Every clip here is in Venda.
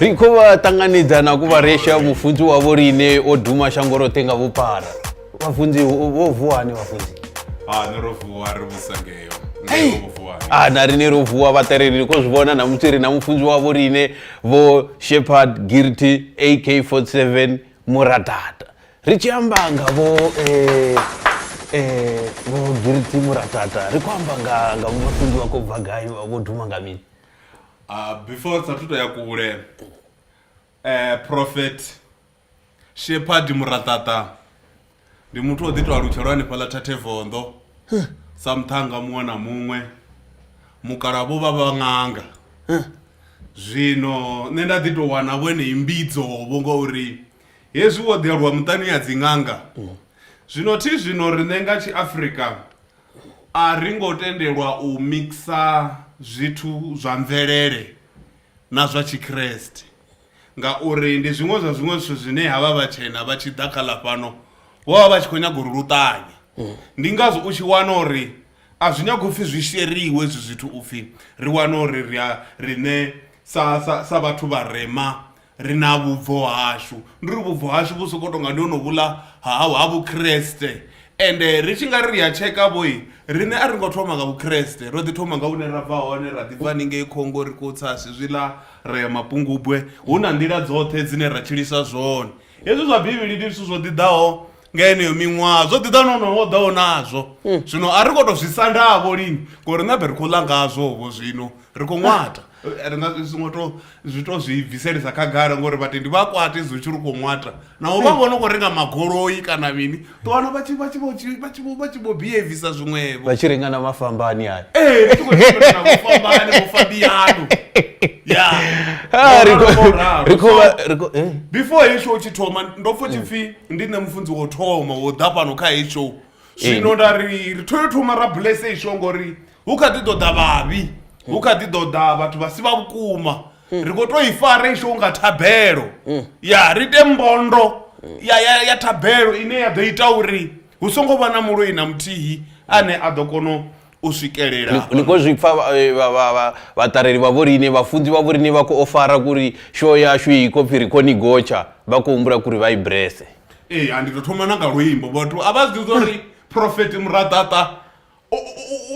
ri khou vha ṱanganedza na ku vharesha mufunzi wavho riine o duma shango roṱhe nga vhupara vhafunzi vho vuwa hani vhafunzi ah, ah, na rine ro vuwa vhaṱereli ri khou zwi vhona na musi ri na mufunzi wavho riine vho shepherd girty ak 47 muratata ri tshi amba nga vho eh, eh, vho giriti muratata ri khou amba nga nga vho mafunzi vha khou bva gai vha vho duma nga mini Ah, before sa thuto ya kule eh prophet shepherd muraṱaṱa ndi muthu o ḓi tou alutshelwa hanefhaḽa thathe vondo sa muṱhanga muṅwe na muṅwe mukala vho vha vha ṅanga zwino nṋe nda ḓi tou wana vho enei mbidzo vho ngauri Hezwi wo ḓi aluwa muṱani ya dziṅanga. Zwino thi zwino riṋe nga tshiafrika a ri ngo tendelwa u mixa zwithu zwa mvelele na zwa tshikreste ngauri ndi zwiṅwe zwa zwiṅwe zwithu zwine havha vhatshena vha tshi ḓa kha ḽa fhano vho vha vha tshi khou nyaga uri lu ṱanye ndi ngazwo u tshi wana uri a zwi nyagi upfhi zwi sheriwe hezwi zwithu upfhi ri wane uri ri a riṋe sa sa sa vhathu vharema Ri na vhubvo hashu, ndi uri vhubvo hashu vhu sokou tou nga ndi honovhuḽa ha ha Vhukriste. Ende ri tshi nga ri ri a tsheka vho, riṋe a ri ngo thoma nga Vhukriste. Ro ḓi thoma nga hune ra bva hone, ra ḓi bva haningei Congo ri khou tsa zwezwiḽa ra ya Mapungubwe. Hu na nḓila dzoṱhe dzine ra tshilisa zwone. Hezwi zwa Bivhili ndi zwithu zwo ḓi ḓaho. nga yeneyo miṅwaha zwo ḓiḓa no no wo ḓaho nazwo hmm. zwino a ri khou tou zwi sandavho lini ngori na be ri khou ḽa ngazwovho zwino ri khou ṅwata eh, ri nga songo to zwi to zwi bviselisa khagala ngori vhatendi vha kwate zwi tshi ri khou ṅwata naho vha hmm. vhona khou renga magoloi kana mini to wana vha tshi vha tshi vha tshi vha tshi vho behavisa zwiṅwevho vha tshi renga na mafhambani ayo ee eh, vha tshi khou renga na mafhambani vho fabiyano ya ah, ri khou ri khou eh. before hesho u tshi thoma ndo pfo tshipfi ndi nṋe mufunzi wo thoma wo ḓa fhano kha heyi show zwino nda ri ri thoyo thoma ra bless heyi show ngori hu kha ḓi ḓoḓa vhavhi hu kha ḓi ḓoḓa vhathu vha si vha vhukuma ri khou tou i fara heyi show nga thabelo ya ri ite mbondo ya, ya, ya thabelo ine ya ḓo ita uri hu songo vha na muloi na muthihi ane a ḓo kona u swikelela ni khou zwi pfa vhaṱareli vha vho riṋe vhafunzi vha vho riṋe vha khou ofara kuri show yashu i khou pfhi ri khou ni gotsha vha khou humbula kuri vha i brese ee a ndi ḓo thoma na nga luimbo vhathu a vha zwi ḓivha uri profeti muraḓaṱa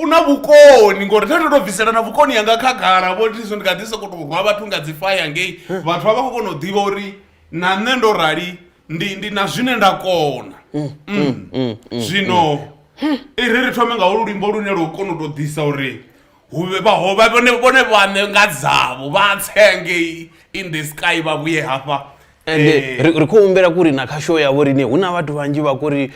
u na vhukoni ngori nda ndo to bvisela na vhukoni yanga khagala vho ndi ndi kha ḓi sokou tou rwa vhathu nga dzi faya ngei vhathu vha vha khou kona u ḓivha uri na nṋe ndo rali ndi ndi na zwine nda kona mm, mm, mm, zwino i ri ri thome nga holu luimbo lune lwo kona u tou ḓisa uri huvhe vhahovha vhone vhone vhaṋe nga dzavho vha tsenge in the sky vha vhuye hafha ende eh. ri khou humbela kuri na kha show yavho rine hu na vhathu vhanzhi vha kuri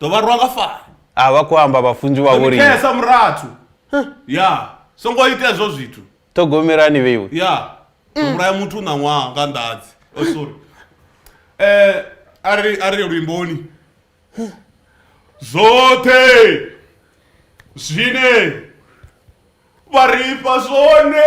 ḓo vha rwa nga fara a vha khou amba vhafunzi vha vhori khesa murathu ya songo ita hezwo zwithu ṱhogomelani vheiwe ya vhulaya muthu na ṅwaha nga ndadzi oh, sorry eh ari ari luimboni zwoṱhe zwine vha ri fha zwone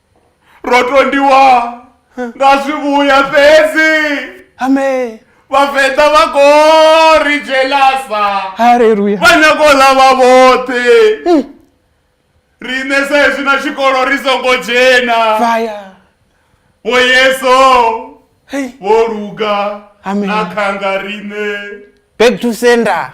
rotondiwa nga zwivhuya fhedzi ame vhavenḓa vha kho ri jelasa haleluya vha nyago ḽa vha vhoṱhe hmm. riṋe sa hezwi na tshikolo ri songo dzhena vaya vho yeso vho luga na khanga riṋe back to sender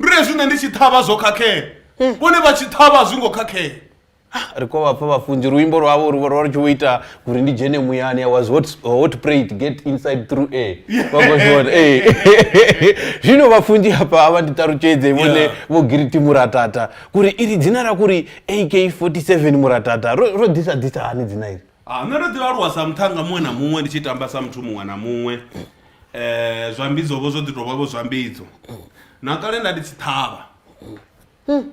ndi hezwi nṋe ndi tshi ṱhavha zwo khakhea vhone vha tshi ṱhavha zwi ngo khakhea ri khou vha pfa vhafunzi luimbo lwavho ri ri tshi vho ita uri ndi dzhene muyani i was hot, hot prayed get inside through air vhakhozvona ee zvino vafunzi apa ava nditarutshedze vone Yeah. vho giriti muratata kuri iri dzina ra kuri ak 47 muratata ro ro ḓisa ḓisa hani dzina iri Ah, nṋe ndo ḓi aluwa sa muṱhannga muṅwe na muṅwe ndi tshi tamba sa muthu muṅwe na muṅwe um zwambidzo vho zwo ḓi tou vha vho zwambidzo na kale nda ndi tshi ṱhavha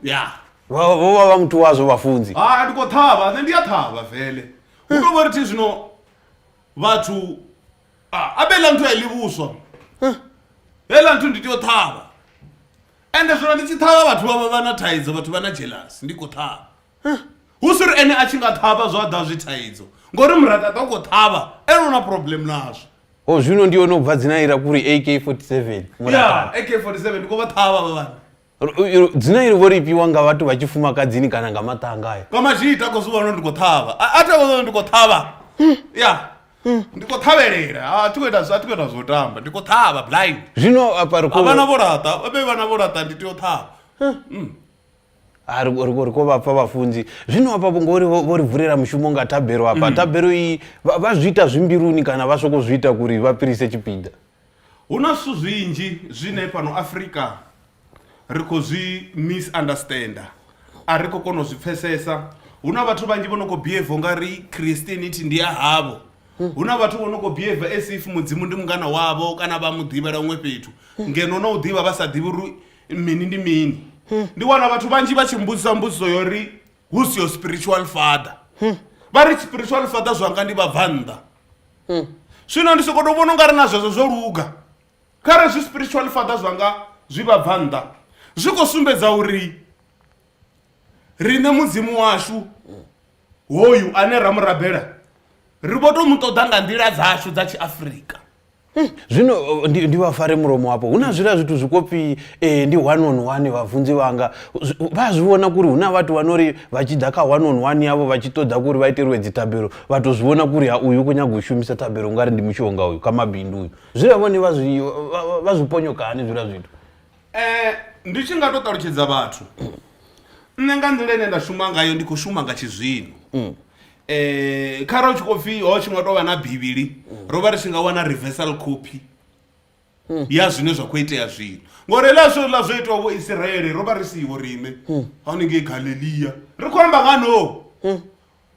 ya vho vho vha vha muthu wazwo vhafunzi ha ndi khou ṱhavha nṋe ndi a ṱhavha vele hu tou vha ri thi zwino vhathu ah, a vhe ḽa nthu a i ḽi vhuswa heiḽa nthu ndi tea u ṱhavha ende zwino ndi tshi ṱhavha vhathu vha vha vha na thaidzo vhathu vha na jealous ndi khou ṱhavha Hu si uri ene a tshi nga ṱhavha zwa ḓa zwi thaidzo, ngori murakaṱa u khou ṱhavha ene u na problem nazwo. Oh zwino ndi hone u bva dzina ira kuri AK47 murakaṱa. Yeah AK47 ndi khou vha ṱhavha vha vhana. dzina iri vho ri fhiwa nga vhathu vha tshifumakadzini kana nga maṱanga ayo kwa mazhita ko zwiwana ndi khou ṱhavha a tha ndi khou ṱhavha ya ndi khou ṱhavhelela a thi khou ita a thi khou ita zwo tamba ndi khou ṱhavha blind zwino apa ri khou vhana vho laṱa vhe vhana vho laṱa ndi tea u ṱhavha Ah, ri ri- ri khou vha pfa vhafunzi zwino hafha vho- ngori vho vho ri vulela mushumo nga thabelo hafha thabelo iyi vha vha zwi ita zwi mbiluni kana vha sokou zwi ita kuri vha fhirise tshipiḓa hu na zwithu zwinzhi zwine fhano afrika ri khou zwi misunderstander a ri khou kona u zwi pfesesa hu na vhathu vhanzhi vho no khou behave nga ri christianity ndi ya havho hu na vhathu vho no khou behave as if mudzimu ndi mungana wavho kana vha mu ḓivhela huṅwe fhethu ngeno na u ḓivha vha sa ḓivhi uri mini ndi mini ndi wana vhathu vhanzhi vha tshi mbudzisa mbudziso yo ri who's your spiritual father vha ri spiritual father zwanga ndi vhabvannḓa zwino ndi sokoto vhona ungari na zwezwo zwo luga khare zwi spiritual father zwanga zwi vhabvannḓa zwi khou sumbedza uri riṋe mudzimu washu hoyu ane ra mu rabela ri vho to mu ṱoḓa nga nḓila dzashu dza tshiafrika Hmm, zwino uh, ndi, ndi vha fare mulomo wapo hu na zwiḽa zwithu zwikopi eh, ndi one on one vhafunzi vhanga vha zwi vhona kuri hu na vhathu vha no ri vha tshi ḓa kha one on one yavho vha tshi ṱoḓa kuri vha iteriwe dzithabelo vha to zwi vhona kuri ha uyu u khou nyaga u shumisa thabelo ungari ndi mushonga uyu kha mabindu uyu zwiḽa vhone vha zwi vha zwi ponyoka hani zwiḽa zwithu Ndi tshi nga to ṱalutshedza vhathu nṋe nga nḓila ine nda shuma ngayo ndi kho shuma nga tshizwino kharali hu tshi khou pfhi ho tshi nga tovha na bivhili ro vha ri tshi nga wana reversal copy ya zwine zwa kho itea zwino ngori hezwiḽa zwithu hezwiḽa zwo itiwa vho Isiraele ro vha ri siho riṋe haningei Galilea ri khou amba nga no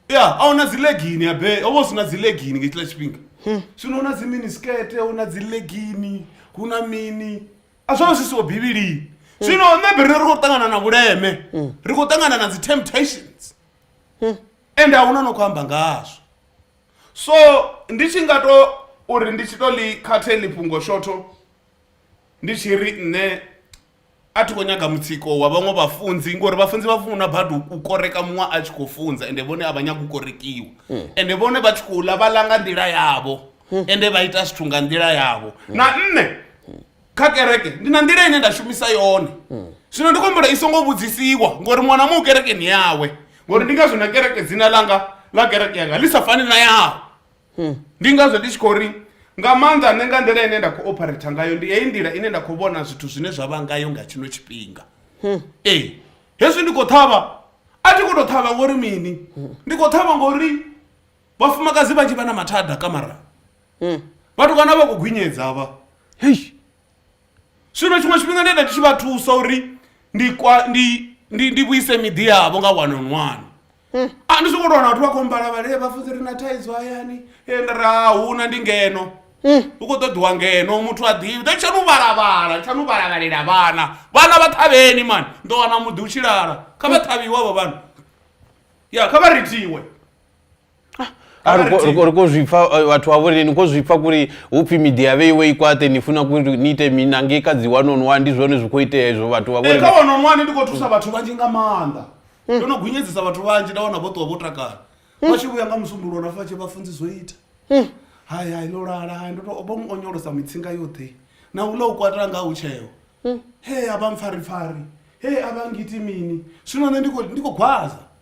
ya a huna dzi legini ya bere ho vha hu si na dzi legini nga hetshiḽa tshifhinga zwino hu na dzi mini skete hu na dzi legini hu na mini. a zwo zwi siho bivhilini zwino maybe rine ri khou ṱangana na vhuleme ri khou ṱangana na dzi temptations and a huna no khou amba ngazwo so ndi tshi nga to uri ndi tshi to ḽi khathe ḽi fhungo shotho ndi tshi ri nṋe a thi khou nyaga mutsiko wa vhaṅwe vhafunzi ngori vhafunzi vha funa badi u koreka muṅwe a tshi khou funza ende vhone a vha nyagi u korekiwa ende vhone vha tshi khou ḽa vha ḽa nga nḓila yavho ende vha ita zwithu nga nḓila yavho na nṋe kha kereke ndi na nḓila ine nda shumisa yone zwino ndi kombela i songo vhudzisiwa ngori mwana mu kerekeni yawe ngori ndi ngazwo na kereke dzina langa ḽa kereke yanga ḽi sa fani na yaho ndi ngazwo ndi tshi khou ri nga maanḓa nṋe nga nḓila ine nda khou operator ngayo ndi heyi nḓila ine nda khou vhona zwithu zwine zwa vha ngayo nga tshino tshifhinga ee hezwi ndi khou ṱhavha a thi khou tou ṱhavha ngori mini ndi khou ṱhavha ngori vhafumakadzi vhanzhi vha na mathada kamarani Hmm. vhathu kana vha khou gwinyedza vha zwino tshiṅwe tshifhinga ndi enda ndi tshi vha thusa uri ndi kwa ndi ndi ndi vhuise miḓi yavho nga one on one hmm. a ah, ndi songo tou wana vhathu vha khou mbala vhale eh, vhafuzi ri na thaidzo hayani eh, ndi ra ah, huna ndi ngeno hmm. u khou ṱoḓiwa ngeno muthu a ḓivhi ḓo tsha nu vhalabala tsha nu vhalabhalela vhana vhana vha ṱhavheni mani ndo wana muḓi u tshilala kha vha ṱhavhiwe vho vhana ya kha vha ritiwe uri ko zwipfa eh, vhathu vha vhoreni ko zwipfa kuri hupfi midia vhe iwe ikwate ni funa kuri ni ite mina nge ka dzi one on one ndi zwone zwi kho itea izwo vhathu vha vhoreni eh, ka one on one ndi kho thusa vhathu vhanzhi nga maanḓa hmm. ndo no gunyedzisa vhathu vhanzhi nda wana vho ṱuwa vho takala hmm. vha tshi vhuya nga musumbulo na fatshi vha funzi zwo ita hmm. hai hai ndo lala hai ndo to bo onyolosa mitsinga yoṱhe na u lo kwatela nga u tsheo he a vha mpfari pfari he a vha ngiti mini zwino ne ndi kho ndi kho gwaza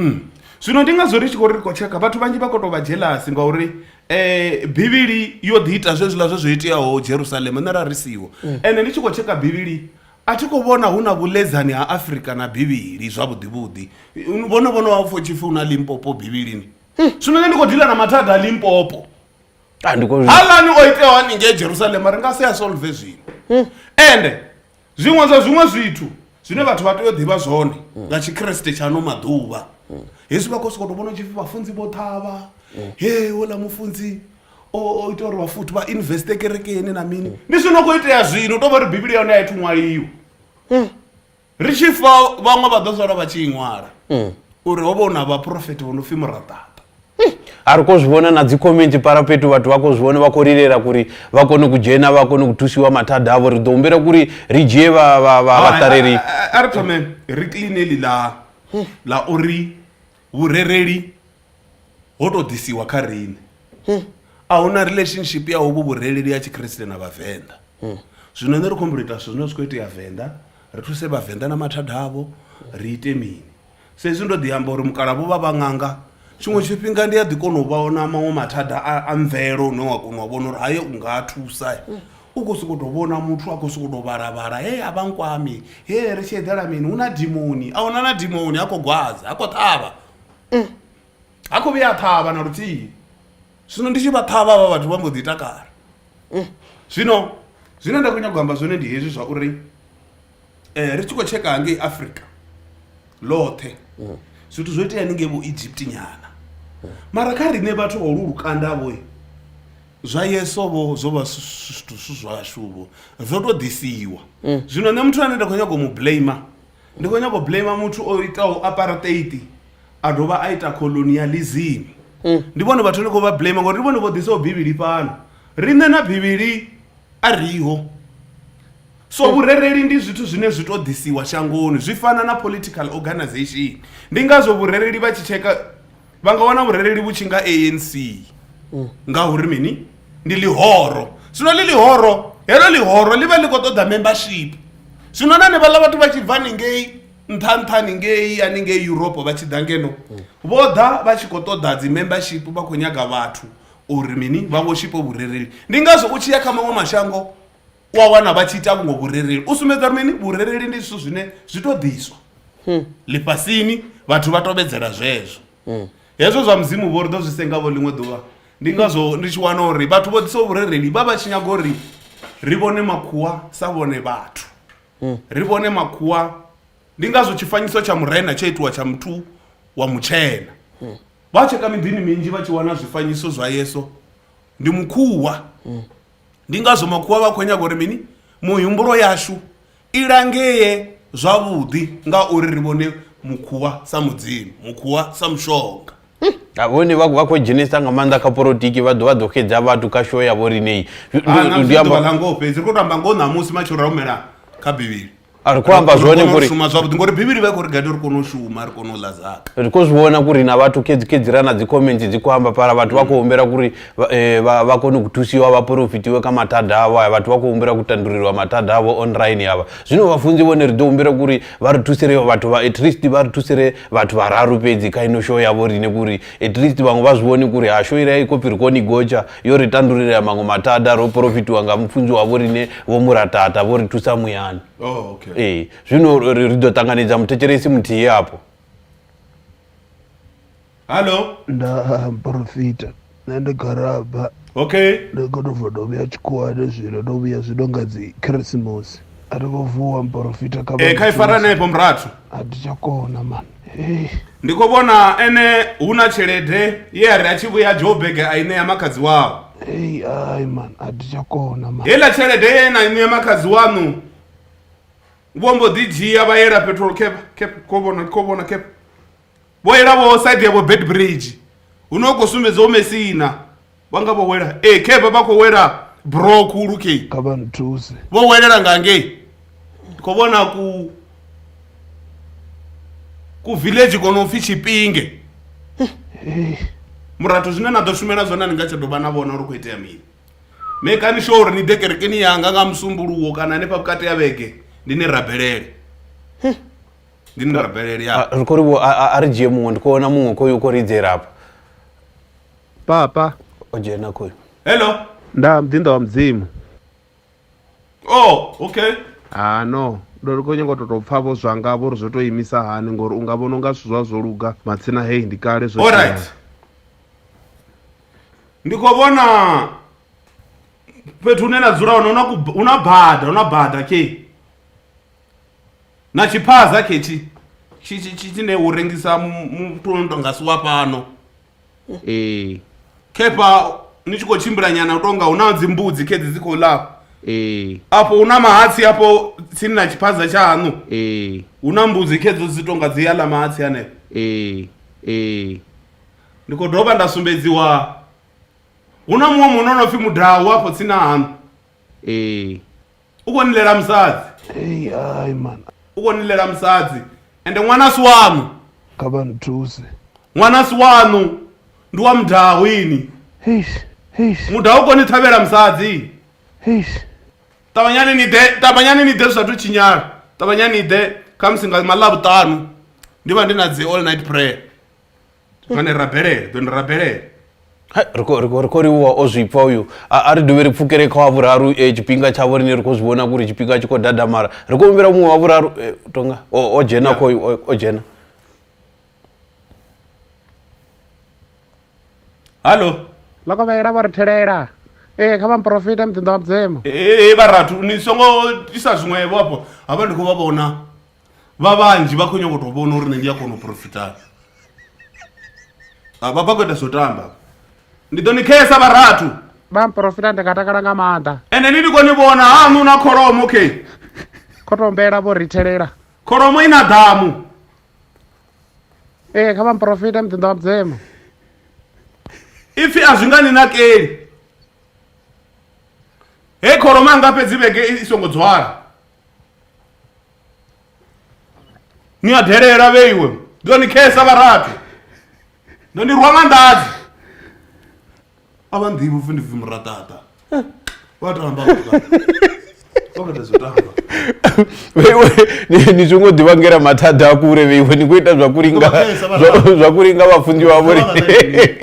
Mm. zwino ndi ngazwo ri tshi khou ri ri khou tshekha vhathu vhanzhi vha khou tou vha jealous ngauri um bivhili yo ḓi ita zwezwiḽa zwe zwo iteaho jerusalema nṋe ra ri siho mm. ende ndi tshi khou tshekha bivhili a thi khou vhona hu na vhuledzani ha afrika na bivhili zwavhuḓivhuḓi vhono vhono wa pfo tshipfi hu na limpopo bivhilini hmm. zwino nṋe ndi khou dila na mathada a limpopo ah, halani o iteaho haningei jerusalema ri nga si a solve zwino hmm. ende zwiṅwe zwa zwiṅwe zwithu zwine vhathu vha tea u ḓivha zwone hmm. nga tshikriste tshaano maḓuvha hezwi vha khou sokoto vhona tshipfi vhafunzi vho ṱhavha he ola mufunzi o ita uri vhafuthi vha investe kerekeni na mini ndi zwino khou itea zwino u tou vha ri bivhili ya hone a ithu ṅwaliwa ri tshi fa vhaṅwe vha ḓo sala vha tshi i ṅwala mm. uri ho vha hu na vhaprofeti vho no pfhi muraṱaṱa eh, a ri ko zwi vhona na dzikhomenti para fhethu vhathu vha ko zwi vhona vha khou lilela kuri vha kone ku dzhena vha kone ku thusiwa mathada avho ri ḓo humbela kuri ri dzhie vhaṱaleli a ri thome ri cleane ḽi ḽa ḽa uri Vhurereli ho tou ḓisiwa kha riṋe. A hu na relationship ya hovhu vhurereli ha Tshikriste na Vhavenḓa. Zwino nṋe ri khou humbela u ita zwithu zwine zwi khou itea Venḓa, ri thuse Vhavenḓa na mathada avho, ri ite mini. Sa izwi ndo ḓi amba uri mukalaha vho vha vha ṅanga, tshiṅwe tshifhinga ndi a ḓi kona u vhona maṅwe mathada a a mvelo une wa kona u vhona uri hayo u nga a thusa. u khou sokou tou vhona muthu a khou sokou tou vhala vhala hee a vha nkwami hee ri tshi eḓela mini hu na dimoni a huna na dimoni ha khou gwadza ha khou ṱhavha ha khou vhuya a ṱhavha na luthihi zwino ndi tshi vha ṱhavha vha vhathu vha mbo ḓi takala zwino zwine nda khou nyanga u amba zwone ndi hezwi zwa uri eh, ri tshi khou tsheka hangei africa ḽoṱhe zwithu zwo itea ningei vho egypt nyana mara kha riṋe vhathu vha ulu lukanda vhoe zwa yeso vho zwo vha zwi- zwi- zwithu zwi zwashu vho zwo tou ḓisiwa zwino nṋe muthu ane nda khou nyanga u mu blame ndi khou nyanga u blame muthu o itaho apartheid a dovha a ita colonialism ndi vhone vhathu ndi khou vha blame ngori ndi vhone vho ḓisaho bivhili fhano riṋe na bivhili a riho so vhurereli ndi zwithu zwine zwi to ḓisiwa shangoni zwi fana na political organization ndi ngazwo vhurereli vha tshi tsheka vha nga wana vhurereli vhu tshi nga anc ngauri mini ndi ḽihoro zwino ḽi ḽihoro heḽo ḽihoro ḽi vha ḽi khou ṱoḓa membership zwino na nevhaḽa vhathu vha tshi bva ningei nṱha nṱha ningei haningei europe vha tshi ḓa ngeno vho ḓa vha tshi khou ṱoḓa dzi membership vha khou nyaga vhathu uri mini vha vhoshipo vhurereli ndi ngazwo u tshi ya kha maṅwe mashango u a wana vha tshi ita vhuṅwe vhurereli u sumbedza uri mini vhurereli ndi zwithu zwine zwi to ḓiswa ḽifhasini vhathu vha tovhedzela zwezwo hezwo zwa mudzimu vho ri ḓo zwi sengavho ḽiṅwe ḓuvha ndi ngazwo ndi tshi wana uri vhathu vho ḓisaho vhurereli vha vha tshi nyaga uri ri vhone makhuwa sa vhone vhathu ri vhone makhuwa ndi ngazwo tshifanyiso tsha murena tsho itiwa tsha muthu wa mutshena vha tsheka miḓini minzhi vha tshi wana zwifanyiso zwa yeso ndi mukhuwa ndi ngazwo makhuwa vha khou nyaga uri mini muhumbulo yashu i langee zwavhuḓi ngauri ri vhone mukhuwa sa mudzimu mukhuwa sa mushonga vhone vha vha khou dzhenisa nga maanḓa kha politiki vha ḓo vha ḓo xedza vhathu kha show ya vho rineyi ḓuvha ḽa ngoho fhedzi ri khou to amba ngoho ṋamusi matshelo ra humela kha bivhili a ri khou amba zwone ngori shuma zwavhuḓi ngori bivhili vha khou ri gade ri kone u shuma ri kone u ḽa zaka ri khou zwi vhona kuri na vhathu khedzikhedziraa na dzi comment dzi khou amba pala vhathu vha khou humbela kuri eh, vha kone ku thusiwa vha porofitiwe ka mathada avho aya vhathu vha khou humbela ku tandululwa mathada avho online yavha zwino vhafunzi vhone ri ḓo humbela kuri vha ri thusire vhathu vha at least vha ri thusire vhathu vhararu fhedzi kha ino show yavho rine kuri at least vhaṅwe vha zwi vhoni kuri ha show ire i khou pfi ri koni gotsha yo ri tandululea maṅwe mathada ro porofitiwa nga mufunzi wa vho riṋe vho muratata vho ri thusa muyani oh, okay. ee zwino ri ḓo ṱanganedza muthetshelesi muthihi afho hallo nda porofita nṋe ndi garaba okay ndi khou tou bva ndo vhuya tshikhuwani zwino ndo vhuya zwino nga dzi khirisimusi a thi khou vuwa mporofita kha eh, kha ifaranefho murathu a thi tsha kona mani Ndi khou vhona ene hu na tshelede ye a ri a tshi vhuya Joburg a i ṋea makhadzi wao. Ei ai man a thi tsha kona man. Heiḽa tshelede ye na i ṋea makhadzi waṋu vho mbo ḓi dzhia vha yela petrol cap cap kho vhona kho vhona cap vho yela vho side yavho Beitbridge huno hu khou sumbedza hu Mesina. vha nga vho wela ee eh, khevha vha khou wela bro khulu kei kha vha nthuse vho welela nga ngei ndi khou vhona ku ku village kono pfhi tshipinge murathu zwine na ḓo shumela zwone ni nga tsha dovha na vhona uri khou itea mini mekani sho uri ni ḓe kerekeni yanga nga musumbuluwo kana hanefha vhukati ya vhege ndi ni rabelele ndi ni rabelele ya ri khou ri vho a ri dzhie muṅwe ndi khou vhona muṅwe khoyo u khou ridzela hafha Papa. O dzhena khoyu. Hello. Nda mdinda wa mudzimu. Oh, okay. Ah no. Ndo ri khou nyanga u tou pfha vho zwanga vho ri zwo tou imisa hani ngori u nga vhona unga zwithu zwa zwo luga matsina hey ndi kale zwo. Alright. Ndi khou vhona fhethu hune na dzula hone hu na bada hu na bada khe na tshiphaza khethi tshine u rengisa muthu no tonga si wa fhano ee khepha ni tshi khou tshimbila nyana u tonga hu na dzimbudzi khedzi dzi khou ḽa ee afho hu na mahatsi afho tsini na tshiphaza tshahaṋu ee hu na mbudzi khedzo dzi tonga dzi ya ḽa mahatsi hanefho ee ee ndi khou dovha nda sumbedziwa hu na muṅwe munna o no pfhi mudau afho tsini na haṋu ee u khou nilela musadzi ei hai man u khou nilela musadzi ende ṅwana a si waṋu kha vha nthuse ṅwana a si waṋu ndi wa mudaho ini heish heish mudaho u khou ni ṱhavhela musadzi heish ṱavhanyani ni ḓe ṱavhanyani ni ḓe zwi sathu tshinyala ṱavhanyani ni ḓe khamusi nga maḽa vhuṱanu ndi vha ndi na dzi all night prayer dzone rabelele dzone rabelele ri khou livhuwa o zwi pfa uyu a ri dovhe ri pfukele kha wa vhuraru eh, tshifhinga tshavho rine ri khou zwi vhona kuri tshifhinga tshi khou dadamala ri khou humbela muṅwe wa vhuraru eh, tonga o dzhena khoyu o dzhena hallo lokovhela vho ri thelela ee kha vhamuporofita muḓinḓa wa mudzimu ee eh, vharathu ni songo isa zwiṅwevho afho havha ndi khou vha vhona vha vhanzhi vha khou nyanga u tou vhona uri nṋe ndi a kona u profita Ah, vha vha khou ita zwo tamba ndi ḓo ni khesa vharathu vha mporofita ndi nga takala nga maanḓa ende ni ndi khou ni vhona haṋu na kholomo okay khotombela vho rithelela kholomo i na ḓamu ee kha vha mporofita muḓinḓa wa mudzemo ipfi a zwi nga ni nakeli he kholomo anga fhedzi vhege i i songo dzwala ni a delela vheiwe ndi ḓo ni khesa vharathi ndo ni rwa nga ndadzi a vha nḓivhi upfi ndi pfi muraṱaṱa vha tamba okatazotamba vheiwe ni- ni zwi ngo ḓi vhangela mathada a kule vheiwe ni khou ita zwa kuli nga Ngo vhesa vha zwa- rali. zwa kuli nga vhafunzi vha vhori Ngo vha rali.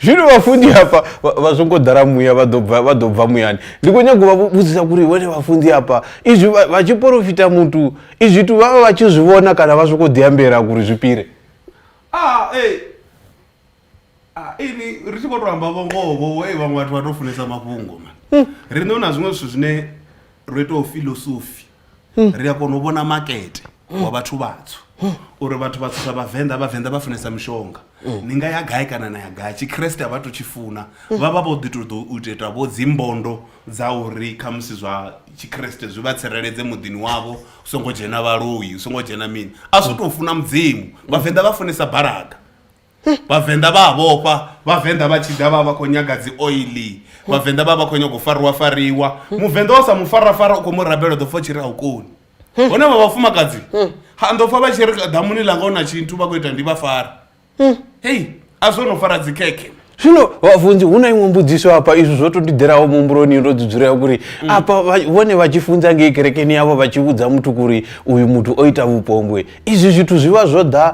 zwino vhafunzi hafha vha- vha zwo ngo ḓala muya vha ḓo bva- vha ḓo bva muyani ndi khou nyaga u vha vhudzisa kuri iwe ne vhafunzi hafha izwi vha tshi porofita muthu izwi tu vha vha vha tshi zwi vhona kana vha sokou ḓiambela kuri zwi pire ah, eh. ah, ini ri tshi khou tou amba vhongoho e vhaṅwe vhathu vha tou funesa mafhungo ma hmm. ri ṋeona zwiṅwe zwithu zwine ro itaho filosofi ri a kona u vhona makete wa vhathu vhatswu uri vhathu vhatswu sa vhavenḓa vhavenḓa vha funesa mishonga ni nga ya gai kana na ya gai tshikreste a vha to tshi funa vha vha vho ḓi to ḓo u ita vho dzimbondo dza uri khamusi zwa tshikreste zwi vha tsireledze muḓini wavho u songo dzhena vhaloi u songo dzhena mini a zwo tou funa mudzimu vhavenḓa vha funesa balaga vhavenḓa vha a vhofha vhavenḓa vha tshi ḓa vha vha khou nyaga dzi oili vhavenḓa vha vha khou nyaga u fariwa fariwa muvenḓa wa sa mu fara fara u khou mu rabela ḓo pfa tshi ri a u koni hone vha vhafumakadzi ha ndo pfa vha tshi ri ḓamuni ḽanga u na tshinthu vha khou ita ndi vha fara hei a zwo no fara dzikhekhe zwino vhafunzi hu na iṅwe mbudziso hafha izwi zwo to ndiḓelaho muhumbuloni ndo dzudzulea kuri mm. afha vhone vha tshi funza ngei kerekeni yavho vha tshi vhudza muthu kuri uyu muthu o ita vhupombwe izwi zwithu zwi vha zwo ḓa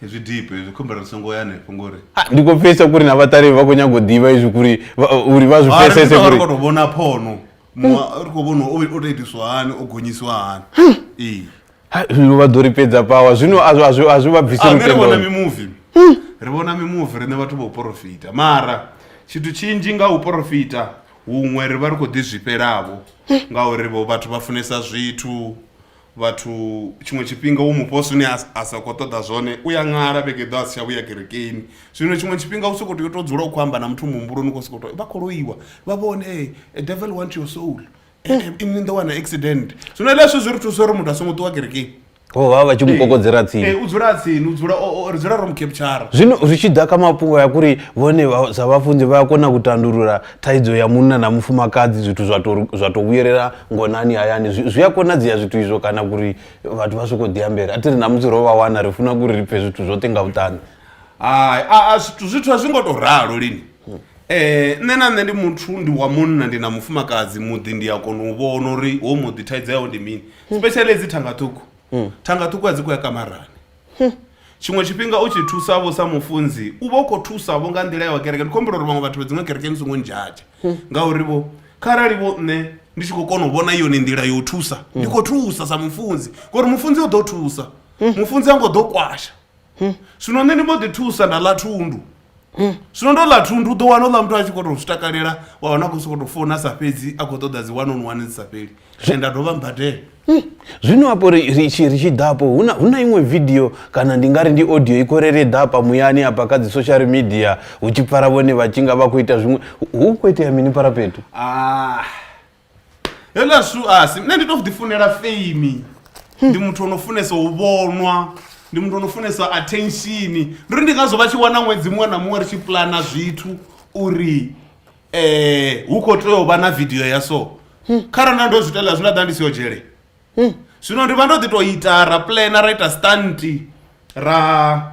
hezwi deep hezvi khumbela ri songo ya hanefho ngori ah, ndi khou pfesa kuri na vhaṱaleli vha khou nyaga u ḓivha izwi kuri uri vha zwi pfesese kuri ri khou tou vhona phono ri khou vhona o tou itiswa hani o gonyisiwa hani hmm. ee lu vha ḓo ri fhedza pawa zwino a zwi vha bvisi lutendoni ah, vhona mimuvi hmm. ri vhona mimuvi riṋe vhathu vha u porofita mara tshithu tshinzhi nga u porofita huṅwe ri vha ri khou ḓi zwifhelavo hmm. ngauri vhathu vha funesa zwithu vhathu tshiṅwe tshifhinga wo mufha zwine a sa khou ṱoḓa zwone u ya ṅala vhege ḓo a si tsha vhuya kerekeni zwino tshiṅwe tshifhinga u soko tea u to dzula u khou amba na muthu muhumbuloni u khou sokou to vha khou loiwa vha vhone e eh, devil want your soul eh, eh, ini ndo wana accident zwino leswo zwi ri thusa uri muthu a songo ṱuwa kerekeni ho vha vha tshi mu kokodzela tsini u dzula tsini u dzula ri dzula ro mu captshara zwino zwi tshi ḓa kha mafhungo ya kuri vhone sa vhafunzi vha a kona u tandulula thaidzo ya munna na mufumakadzi zwithu zwa to zwa to vhuyelela ngonani hayani zwi a konadzea zwithu izvo kana kuri vhathu vha soko ḓiambela a ti ri namusi ro vha wana ri funa kuri ri pfe zwithu zwoṱhe nga vhuṱani hai a zwithu zwithu a zwi ngo to ralo lini um nṋe na nṋe ndi muthu ndi wa munna ndi na mufumakadzi muḓi ndi a kona u vhona uri ho muḓi thaidzo yawo ndi mini specially dzi thanga ṱhukhu thanga ṱhukhu a dzi khou ya kamarani Huh. tshiṅwe tshifhinga u tshi thusa vho sa mufunzi u vha u khou thusa vho nga nḓila ya wa kereke ndi khou humbula uri vhaṅwe vhathu vha dziṅwe kereke ni songo ndzhadzha ngauri vho kharali vho nṋe ndi tshi khou kona u vhona yone nḓila ya u thusa ndi khou thusa sa mufunzi ngori mufunzi o ḓo thusa mufunzi a ngo ḓo kwasha zwino nṋe ndi mbo ḓi thusa nda ḽa thundu hmm. zwino ndo ḽa thundu u ḓo wana uḽa muthu a tshi kho to zwi takalela wa wana khou sokoto founa sa fhedzi a khou ṱoḓa dzi one on one dzi sa fheli and a dovha mbadela hmm. zwino apo ri tshi ri tshi ḓapo hu na hu na iṅwe video kana ndi nga ri ndi audio i khou rere ḓapa muyani apa kha dzi social media hu tshi pfara vhone vha tshi nga vha khou ita zwiṅwe hu khou itea mini paraphetho ah heḽa su asi nṋe ndi to ḓi funela fame ndi muthu ono funesa u vhonwa ndi muthu ono funesa attention ndi uri ndi ngazwo vha tshi wana ṅwedzi muṅwe na muṅwe ri tshi plana zwithu uri eh hu kho tea u vha na video ya so kharali na ndo zwi itela zwi nda ḓa ndi si yo dzhele zwino ndi vha ndo ḓi to ita ra plana ra ita stunt ra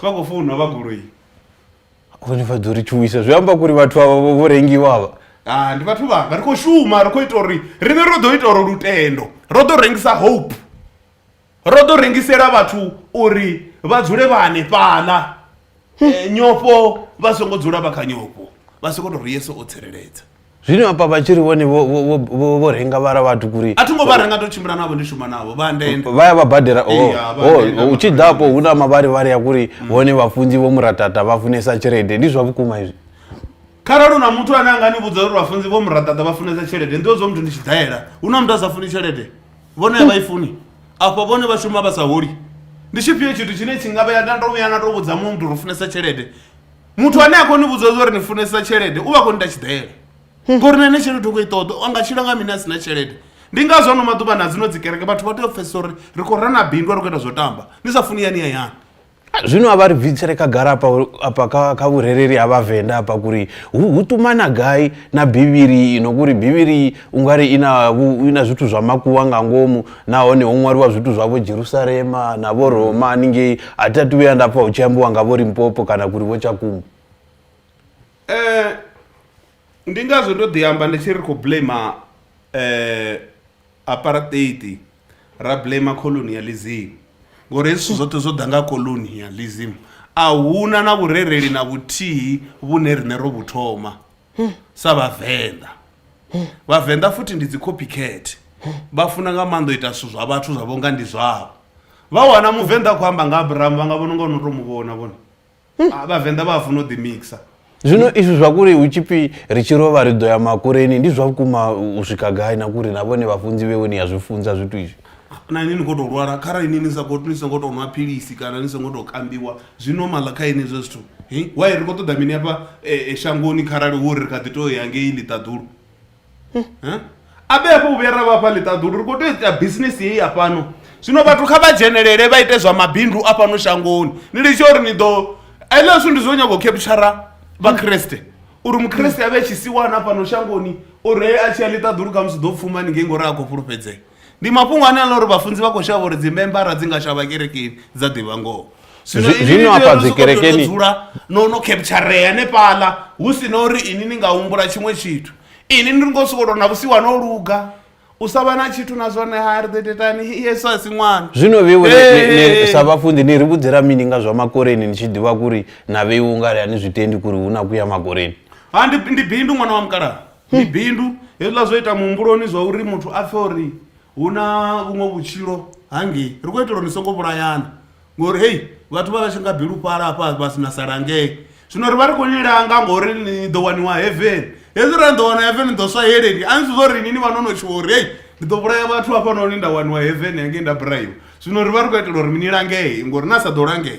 Kha khou founwa vha goloi. Hone vha ḓo ri thuwisa zwi amba kuri vhathu avha vho rengiwa avha. Ah ndi vhathu vhanga ri khou shuma ri khou ita uri riṋe ro ḓo ita uri lutendo ro ḓo rengisa hope ro ḓo rengisela vhathu uri vha dzule vha hanefhaḽa eh, nyofho vha songo dzula vha kha nyofho vha soko to ri yeso o tsireledza zwino hafha vha tshi ri vhone vho- vho- vho- vho- vho renga vhara vhathu kuri a thongo vha renga ndo tshimbila navho ndi shuma navho vha ndende vha ya vha badela o- Ee, ha, vha o- ndenda u tshi ḓapo hu na mavharivhari ya kuri vhone vhafunzi vho muratata vha funesa tshelede ndi zwa vhukuma izwi kharali una muthu ane anga ni vhudza uri vhafunzi vho muraḓaḓa vha funesa tshelede ndi zwo muthu ndi tshi daela hu na muthu a sa funi tshelede vhone a vha i funi afho vhone vha shuma vha sa holi ndi tshifhio tshithu tshine tshi nga vhea nda ndo vhuya na to vhudza muṅwe muthu uri u funesa tshelede muthu ane a khou ni vhudza zwa uri ni funesa tshelede u vha khou ni ta tshiḓela ngori na ine tshelede u khou i ṱoḓa a nga tshila nga mini a si na tshelede ndi ngazwo ano maḓuvha na dzino dzi kereke vhathu vha tea u pfesesa uri ri khou rana bindu a ri khou ita zwo tamba ni sa funi yani ya yani zwino a vha ri bvisele khagala apa apa kha kha vhurereli ha vhavenḓa apa kuri hu ṱumana gai na bivhili ino kuri bivhili ungari ina ina zwithu zwa makuwa nga ngomu nahone ho ṅwaliwa zwithu zwa vho Jerusalema na vho Roma haningei a thi athu vhuya nda pfha hu tshi ambiwa nga vho Limpopo kana kuri vho Tshakumu eh ndi ngazwo ndo ḓi amba ndi tshi ri khou blame eh apartheid ra blame colonialism ngori hezwi zwithu zwoṱhe zwo ḓa nga colonialism a huna na vhurereli na vhuthihi vhune riṋe ro vhu thoma sa vhavenḓa vhavenḓa futhi ndi dzi copycat vha funa nga maanḓa u ita zwithu zwa vhathu zwa vhonga ndi zwavho vha wana muvenḓa a khou amba nga abrahamu vha nga vhona unga no to mu vhona vhona Ah, vhavenḓa vha a funa u ḓi mixa zwino izwi zwa kuri hu tshipfi ri tshi rovha ri ḓo ya makureni ndi zwa vhukuma u swika gai na kuri na vhone vhafunzi vhewe ni ya zwi funza zwithu izwi Na inwi ni khou tou lwala, kharali inwi ni sa khou ni songo tou nwa philisi kana ni songo tou kambiwa, zwi normal kha inwi hezwo zwithu. Hi, why ri khou ṱoḓa mini hafha shangoni kharali hu uri ri kha ḓi tou ya ngei ḽiṱaḓulu? Hi, a vhe hafho u vhuya ra vha hafha ḽiṱaḓulu, ri khou tea u ita business heyi ya fhano. Zwino vhathu kha vha dzhenelele vha ite zwa mabindu a fhano shangoni, ni litshe uri ni ḓo, hezwiḽa zwithu ndi zwo nyaga u kheputshara Vhakriste, uri Mukriste a vhe tshisiwana fhano shangoni, uri he a tshi ya ḽiṱaḓulu khamusi u ḓo pfuma haningei ngori ha khou fhulufhedzea. ndi mafhungo ane a ḽa uri vhafunzi vha khou shavha uri dzimembara dzi nga shavha kerekeni dza ḓivha ngoho zwino Zwi- ini zwino ni tea afha uri ni sokou dzikerekeni- tea u dzula no no kheptsharea hanefhaḽa hu si na uri ini ni nga humbula tshiṅwe tshithu ini ni ngo sokou tou na vhusiwa no luga u sa vha na tshithu na zwone ha ri ḓo tetani yesu a si ṅwana zwino vheiwe ni- ni- ni- Hey. sa vhafunzi ni ri vhudzela mini nga zwa makoreni ni tshi ḓivha kuri na vheiwe ungari a ni zwi tendi kuri hu na kuya makoreni ha ndi, ndi bindu ṅwana wa mukalaha ndi bindu hezwiḽa zwo ita muhumbuloni zwa uri muthu a pfhe uri hu na vhuṅwe vhutshilo hangei ri khou itela uri ni songo vhulayana ngori hei vhathu vha vha tshi nga bilufhala hafha vha si na sala ngei zwino ri vha ri khou ni langa ngori ni ḓo waniwa heaven hezwi ra ni ḓo wana heaven ni ḓo swa yeleni a ni zwi zwa uri ni ni vha no no tshuwa uri hei ndi ḓo vhulaya vhathu hafhanoni nda waniwa heaven hangei nda buraiwa zwino ri vha ri khou itela uri ni langee ngori na sa ḓo langea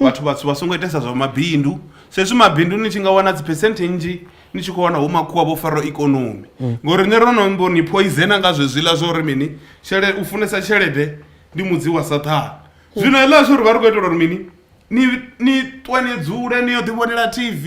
vhathu vhatsu vha songo itesa zwa mabindu sezwi mabindu ni tshi nga wana dzi percent nnzhi ni tshi khou wana hu makhuwa vho fara ikonomi mm. ngori nṋe ro no mbo ni poizena nga zwezwiḽa zwa uri mini tshele u funesa tshelede ndi mudzi wa sathana mm. zwino heḽa zwo ri vha ri khou itela uri mini ni ni ṱwe ni dzule ni yo ḓivhonela tv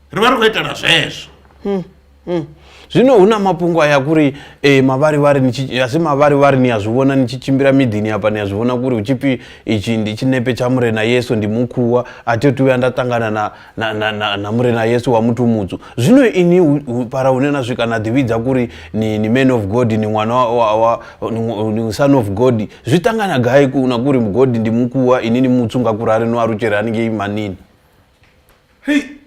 ri vha ri khou itela zwezwo hmm, hmm. zwino hu na mafhungo aya kuri e, mavharivhari asi mavharivhari ni a zwi vhona ni tshi tshimbila miḓini hapa ni a zwi vhona kuri hu tshipfi itshi ndi tshinepe tsha murena yesu ndi mukhuwa a thi tu vhuya nda ṱangana na, na, na, na, na murena yesu wa muthu mutsu zwino ini fara hune na swika na ḓivhidza kuri ni, ni man of god ni ṅwana wa, wa, wa ni son of god zwi ṱangana gai na kuri god ndi mukhuwa ini ni mutsu nga kurari no alutshele haningei manini hei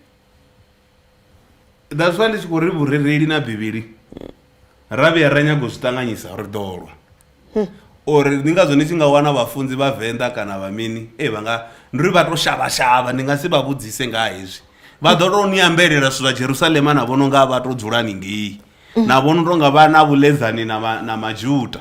that's why ndi tshi khou ri vhurereli na bivhili ra vhuya ra nyaga u zwi ṱanganyisa ri ḓolwa uri ndi ngazwo ni tshi nga wana vhafunzi vha venḓa kana vha mini e vha nga ndi ri vha to shavha shavha ndi nga si vha vhudzise nga hezwi vha ḓo to ni ambelela zwithu zwa jerusalema na vhono nga vha to dzula ningei na vhono tonga vha na vhuledzani na majuda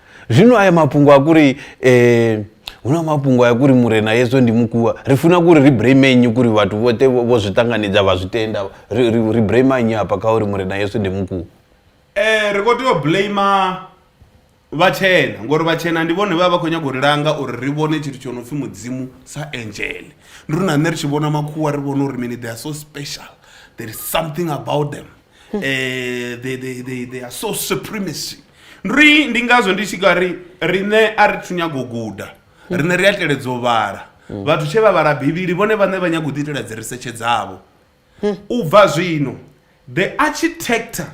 zvino aya mapungo akuri eh, una mapungo aya kuri murena yeso ndi mukuwa ri funa kuri ri bremenyi kuri vatu vote vo zwi tanganidza vha zwi tenda ri bremanyi hapa kha uri murena yeso ndi mukuwa eh ri kho tea u blame vhatshena ngori vhatshena ndi vhone vha vha khou nyanga u ri langa uri ri vhone tshithu tsho no pfhi mudzimu sa angel ndi ri na nṋe ri tshi vhona makhuwa ri vhona uri mini they are so special there is something about them um they, they, they, they are so supremacy ri ndi ngazwo ndi tshi ka ri riṋe a ri thu nyago guda riṋe ri a teledza u vhala vhathu tshe vha vhala bivhili vhone vhaṋe vha nyago u ḓiitela dzi risetshe dzavho u bva zwino the architecture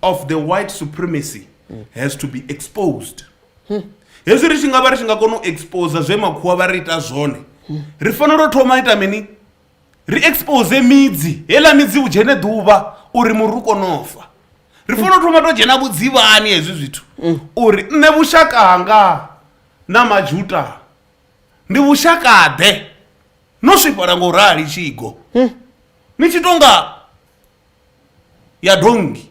of the white supremacy has to be exposed hezwi ri tshi nga vha ri tshi nga kona u exposa zwe makhuwa vha ri ita zwone ri fanela u thoma ita mini ri expose midzi heiḽa midzi u dzhene ḓuvha uri muri u kone u fa ri fanela u thoma to dzhena vhudzivhani hezwi zwithu uri nṋe vhushaka hanga na majuta ndi vhushakaḓe no swifhala nga u rali tshigo ni tshi tonga ya dongi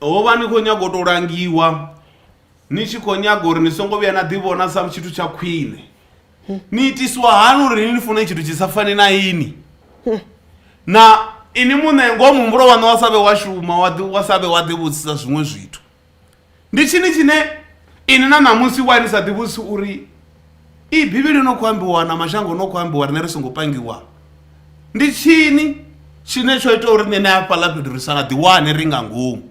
ho vha ni khou nyaga u tou langiwa ni tshi khou nyaga uri ni songo vhuya na ḓivhona sa tshithu tsha khwine ni itiswa hani uri ni ni fune tshithu tshi sa fani na ini na ini muṋe ngoho muhumbulo waṋu wa sa vhe wa shuma wa ḓi- wa sa vhe wa ḓivhudzisa zwiṅwe zwithu Ndi tshini tshine ini na ṋamusi wa ni sa ḓivhusi uri iyi Bivhili yo no khou ambiwa na mashango no khou ambiwa riṋe ri songo pangiwa? Ndi tshini tshine tsho ita uri nṋe hafhaḽa fhethu ri sa ḓiwane ri nga ngomu?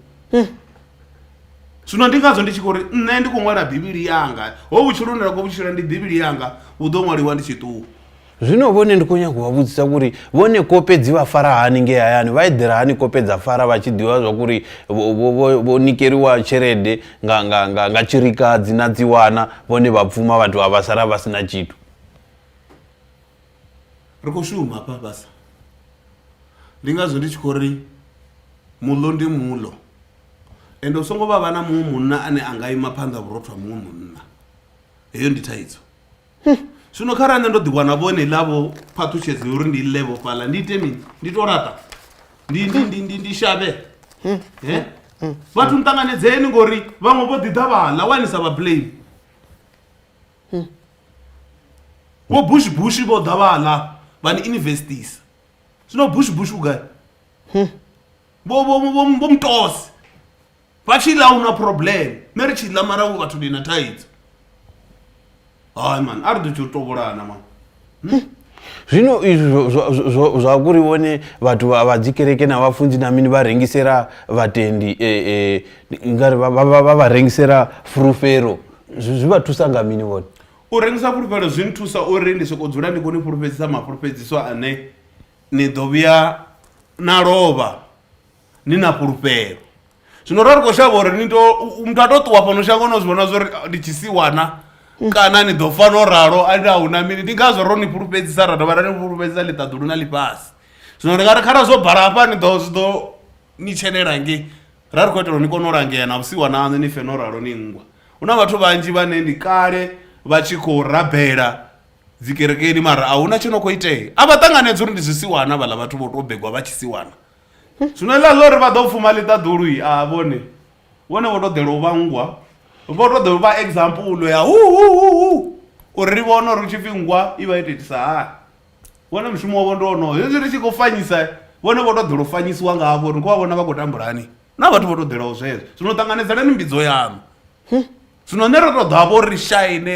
Zwino ndi ngazwo ndi tshi khou ri nṋe ndi khou ṅwala Bivhili yanga. Hovhu vhutshilo hune nda khou vhu tshila ndi Bivhili yanga, vhu ḓo ṅwaliwa ndi tshi ṱuwa. Zwino vhone ndi khou nyaga u vha vhudzisa uri vhone kope dzi vha fara hani nge hayani vha eḓela hani kope dza fara vha tshi ḓivha zwa kuri vho nikeliwa tshelede nga nga nga nga tshilikadzi na dzi wana vhone vha pfuma vhathu vha vha sala vha sina tshithu ri khou shuma hafha fhasi ndi ngazwo ndi tshi khou ri muḽo ndi muḽo ende u songo vha vha na muṅwe munna ane a nga ima phanḓa vhurothwa muṅwe munna heyo ndi thaidzo zwino kha ra nṋe ndo ḓi wana vhone ḽa vho phaṱhutshedzo uri ndi ḽe vho fhaḽa ndi ite mini ndi to laṱa ndi ndi ndi ndi ndi shavhe he vhathu ni ṱanganedzeni ngori vhaṅwe vho ḓi ḓa vhaḽa wani sa vha blame vho bush bush vho ḓa vhaḽa vha ni investisa zwino bush bush vhugai vho vho vho vho mutosi vha tshi ḽa ahuna problem nṋe ri tshi ḽa mara vhu vhathu ndi na thaidzo hayi mani a ri ḓo tshi u tovholana mani zwino izwi zwa kuri vhone vhathu vha dzi kereke na vhafunzi na mini vha rengisela vhatendi e, e, ngari vha vha rengisela fulufhelo zwi vha thusa nga mini vhone u rengisa fulufhelo zwi nthusa uri ndi sokou dzula ndi khou ni fhulufhedzisa mafhulufhedziso ane ni ḓo vhuya na lovha ni na fhulufhelo zwino ra ri khou shavha uri ni to u- muthu a to ṱuwa fhano shango no zwi vhona zwori ah, ndi tshi si wana kana ni ḓo fa no ralo a ndi a huna mini ndi ngazwo ro ni fhulufhedzisa ra dovha ra ni fhulufhedzisa ḽiṱaḓulu na ḽifhasi zwino ndi nga ri khara zwo bala hafha ni ḓo zwi ḓo ni tshelela nge ra ri khou itela uri ni kone u langea na vhusiwa naṋu ni fe no ralo ni nngwa hu na vhathu vhanzhi vhane ndi kale vha tshi khou rabela dzikerekeni mara a huna tsho no khou itea a vha ṱanganedza uri ndi zwisiwana vhaḽa vhathu vho tou begwa vha tshisiwana Zwino heḽa ḽo ri vha ḓo pfuma ḽiṱaḓulu a vhone vhone vho to ḓela u vhangwa vho to ḓo vha example ya hu hu hu hu uri ri vhone uri hu tshipfi nngwa i vha yo to itisa hani vhone mushumo wavho ndi wonoyo hezwi ri tshi khou fanyisa vhone vho to ḓela u fanyisiwa ngavho uri ni khou vha vhona vha khou tambula hani na vhathu vho to ḓelaho zwezwo zwino ṱanganedzelani mbidzo yaṋu zwino nṋe ro to ḓo hafha uri ri shaine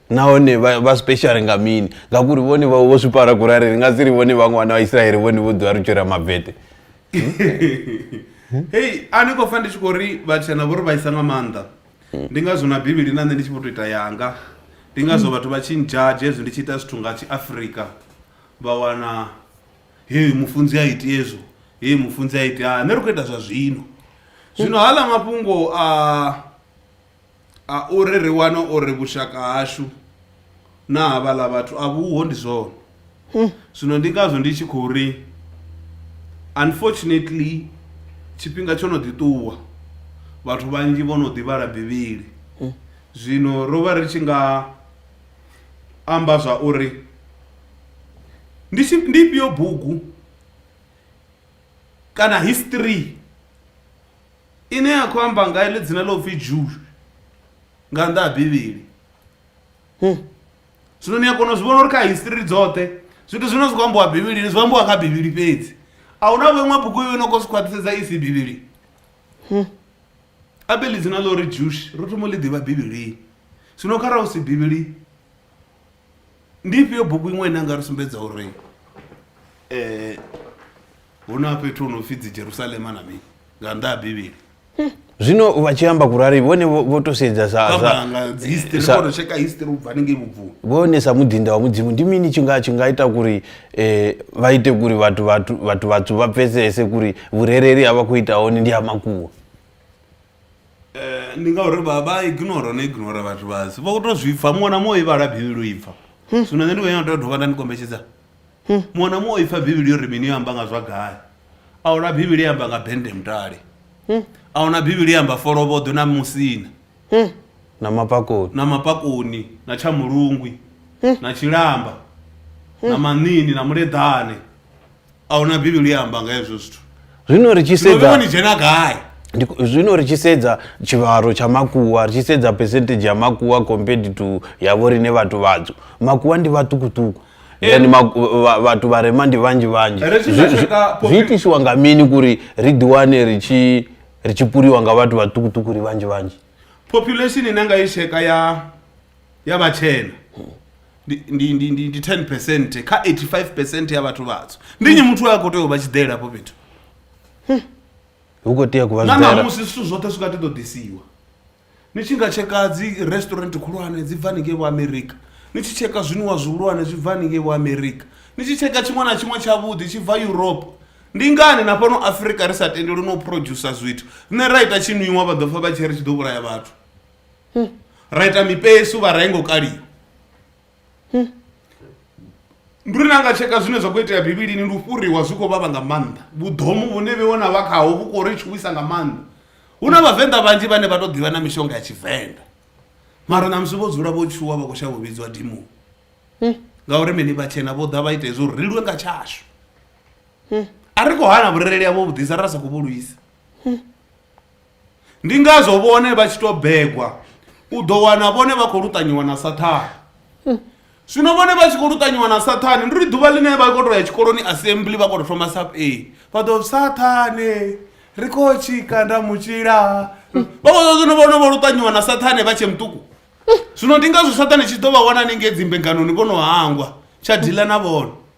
nahone vha vha special nga mini ngauri vhone vha vho zwipara kurari ri nga si ri vhone vhaṅwe vhana vha israele vhone vho ḓiwa ri tshira mabete hei a ni khou pfa ndi tshi khou ri vhatshena vho ri vhaisa nga maanḓa ndi ngazwo na bivhili na nṋe ndi tshi vho tou ita yanga ndi ngazwo vhathu vha tshi ndzhadzhe hezwi ndi tshi ita zwithu nga tshiafrika vha wana hei mufunzi a iti hezwo hei mufunzi a iti ha nṋe ri khou ita zwa zwino zwino hala mafhungo a A uri ri wane uri vhushaka hashu na havhaḽa vhathu a vhuho ndi zwone zwino ndi ngazwo ndi tshi khou ri unfortunately tshifhinga tsho no ḓi ṱuwa vhathu vhanzhi vho no ḓi vhala bivhili zwino ro vha ri tshi nga amba zwa uri ndi tshi ndi ifhio bugu kana history. ine ya khou amba nga ḽi dzina ḽa upfi Jew nga nnḓa ha Bivhili. Zwino ni a kona u zwi vhona uri kha history dzoṱhe zwithu zwine zwi khou ambiwa Bivhilini zwi ambiwa kha Bivhili fhedzi. A hu na vho iṅwe bugu yo no khou zwi khwaṱhisedza i si Bivhili. Abe ḽi dzina ḽa uri Jewish ro thoma u ḽi ḓivha Bivhilini. Zwino kharali hu si Bivhili. ndi ifhio bugu iṅwe ine anga ri sumbedza uri um hu na fhethu hu no pfhi dzi jerusalema na mini nga nnḓa ha bivhili zwino vha tshi amba kurari vhone vho vho to sedza sa sa- kambanga dzi history sa- kono tsheka history ubva hanengei vhubvuni vhone sa muḓinda wa mudzimu ndi mini tshi nga tshi nga ita kuri eh, vha ite kuri vhathu vhathu vhathu vhathu vha pfesese kuri vhurereli ha vha khou ita hone ndi ha makuwa ndi ngauri vha vha ignore no ignore vhathu vhasi vho to zwi pfha muṅwe na muṅwe i vhala bivhili u ipfha zwino nṋe ndi khou nyanga tea dovha nda ni kombetshedza muṅwe na muṅwe o ipfha bivhili yo ri mini yo amba nga zwa gai a huna bivhili ya amba nga bende mutale a huna bivhili ya amba folovhoḓwe na musina na mapakoni na mapakoni na tsha mulungwi na tshilamba na maṋini na muleḓane ahuna bivhili ya amba nga hezwo zwithu zwino ri tshi sedza ni dzhena gai zwino ri tshi sedza tshivhalo tsha makuwa ri tshi sedza percentage ya makuwa compared to ya vho rine vhathu vhadzo makuwa ndi vhaṱukuṱuku then eh. vhathu vha rema ndi vhanzhi vhanzhi zwi itisiwa nga mini kuri ri ḓiwane ri tshi ri tshi puliwa nga vhathu vhaṱukuṱuku ri vhanzhi vhanzhi population ine nga i tsheka ya ya vhatshena ndi- ndi ndi- ndi- ndi 10 percent kha 85 percent ya vhathu vhatswu ndi nyi muthu a khou tea u vha tshiḓela afho fhethu hu khou tea ku vha na zwiḓela ṋamusi zwithu zwoṱhe zwi nga ḓi ḓo ḓisiwa ni tshi nga tsheka dzi restaurant khulwane dzi bva haningei vho amerika ni tshi tsheka zwiniwa zwihulwane zwi bva haningei vho amerika ni tshi tsheka tshiṅwe na tshiṅwe tshavhuḓi tshi bva europe Ndi ngani na fhano Afrika ri sa tendelwi no producer zwithu? Nṋe ra ita tshinwiwa vha ḓo pfa vha tshi ri tshi ḓo vhulaya vhathu. Ra ita mipesu vha renga u kaliwa. Ndi uri na nga tsheka zwine zwa khou itea Bivhilini ndi u fhuriwa zwi khou vhavha nga maanḓa. Vhuḓomu vhune vheiwe na vha khaho vhu khou ri tshuwisa nga maanḓa. Hu na vhavenḓa vhanzhi vhane vha to ḓivha na mishonga ya tshivenḓa. Mara ṋamusi vho dzula vho tshuwa vha khou shavha u vhidzwa dimoni. Ngauri mini vhatshena vho ḓa vha ita hezwo uri ri lwe nga tshashu. a ri khou hana vhurereli havho vhuḓisa ra sa khou vhu lwisa ndi ngazwo vhone vha tshi tou begwa u ḓo wana vhone vha khou luṱanyiwa na sathane zwino vhone vha tshi khou luṱanyiwa na sathane ndi ri ḓuvha ḽine vha khou tou ya tshikoloni assembly vha khou tou thoma sap a vha ḓo sathane ri khou tshika nda mutshila vha khou zwino vhone vho luṱanyiwa na sathane vha tshe muṱuku zwino ndi ngazwo sathane tshi ḓo vha wana ninge dzimbenganoni vho no hangwa tsha dila na vhone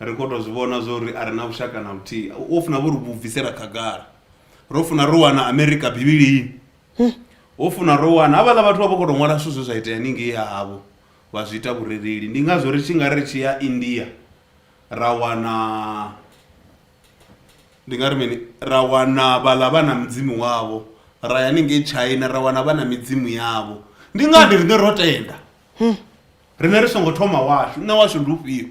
ri khou tou zwi vhona zwo ri a re na vhushaka na vhuthihi wo funa vho ri vhu bvisela khagala ro funa ro wana amerika bivhilini ho funa ro wana havhaḽa vhathu vha vho khou tou ṅwala zwithu zwe zwa itea ningei ha havho vha zwi ita vhurereli ndi ngazwo ri tshi nga ri tshi ya india ra wana ndi nga ri mini ra wana vhaḽa vha na mudzimu wavho ra ya ningei china ra wana vha na midzimu yavho ndi ngani riṋe ro tenda Rine ri songo thoma washu, nṋe washu ndi ufhio?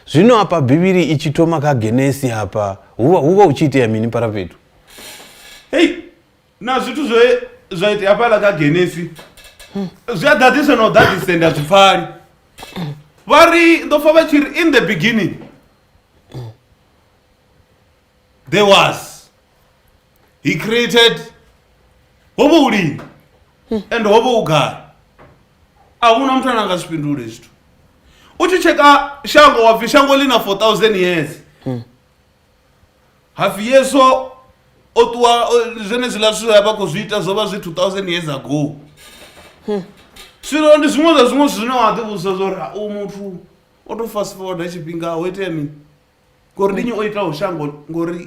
Zwino afha Bivhili i tshi thoma kha Genesi hafha, hu vha hu vha hu tshi itea mini Parafhethu? Hei, na zwithu zwe zwa itea hafhaḽa kha Genesi zwi a ḓaḓisa na u ḓaḓisa ndi a zwi pfali. Vha ri ndo pfa vha tshi ri in the beginning there was he created ho vha u lini and ho vha u gai a huna muthu ane a nga zwi fhindule zwithu u tshi tsheka shango wa pfi shango ḽi na 4000 years hapfi yesu o ṱuwa o- zwenezwiḽa zwithu a vha khou zwi ita zwo vha zwi 2000 years ago zwino ndi zwiṅwe zwa zwiṅwe zwithu zwine wa ḓivhudzisa zwa uri u muthu o to fast forward tshifhinga ho itea mini ngori ndi nyi o itaho shango ngori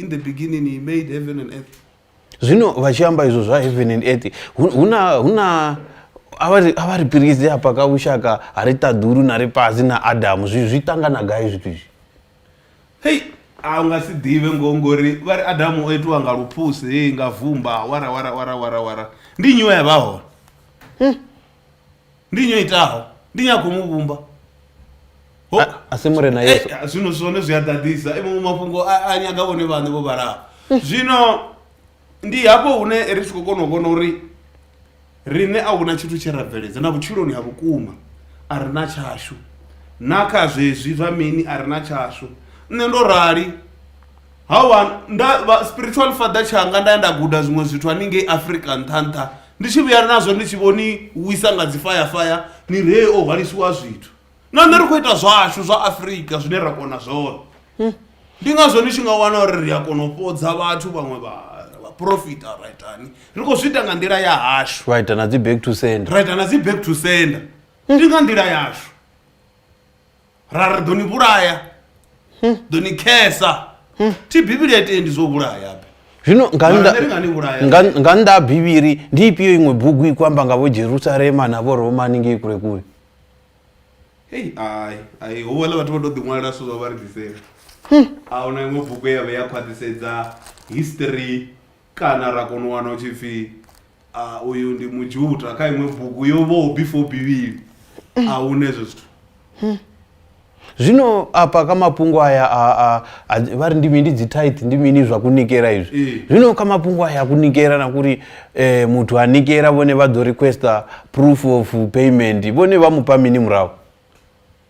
in the beginning he made heaven and earth zwino vha tshi amba izwo zwa heaven and earth hu na hu na a vha ri pirise hafha ka vhushaka ha ri ṱaḓulu na ri pazi na adamu zwi zwi ṱangana gai zwithu izwi hei a u nga si ḓivhe ngo ngori vha ri adamu o itiwa nga luphusi hei nga vumba wara wara wara wara wara ndi nyiwe ya vha hone hmm. ndi nyo itaho ndi nyakho mu vhumba Ho- A- a si murena Eh, yesu zwino zwone zwi a ḓaḓisa iwe mafhungo a a nyaga vhone vhaṋe vho vhalaho zwino ndi hafho hune ri tshi khou kona u vhona uri riṋe a huna tshithu tshe ra bveledza na vhutshiloni ha vhukuma a ri na tshashu na kha zwezwi zwa mini a ri na tshashu nṋe ndo rali Hawa nda vha spiritual father tshanga nda ya nda guda zwiṅwe zwithu haningei Africa nṱha nṱha ndi tshi vhuya nazwo ndi tshi vho ni wisa nga dzi faya faya ni ree o hwalisiwa zwithu na nṋe ri khou ita zwashu zwa Africa zwine ra kona zwone ndi ngazwo ni tshi nga wana uri ri a kona u fhodza vhathu vhaṅwe vha vha profita ra itani ri khou zwi ita nga nḓila ya hashu vha ita na dzi back to sender ra ita na dzi back to sender ndi nga nḓila yashu ra ri ḓo ni vhulaya hm. ḓo ni khesa hm. thi bivhili a tendi zwo vhulaya be zwino nga nnḓa ha bivhili ndi ifhio iṅwe bugu i kwamba nga vho jerusalema na vho romani ngei kule kule hei ai ai hu vhona vhathu vha to ḓiṅwalela zwithu zwa vha ri ḓisela hm. a huna iṅwe bugu ya vhe ya khwaṱhisedza history kana ra kona u wana u tshi pfhi ah, uyu ndi mujuta kha iṅwe bugu yo vhaho before bivhili a hu na ezwo zwithu zwino apa kha mafhungo aya a, a, a, vha ri ndi mini dzi tithe ndi mini zwa kunikela izwi Ee. zwino kha mafhungo aya a kunikela na kuri eh, muthu a nikela vhone vha ḓo requesta proof of payment vhone vha mupha mini murahu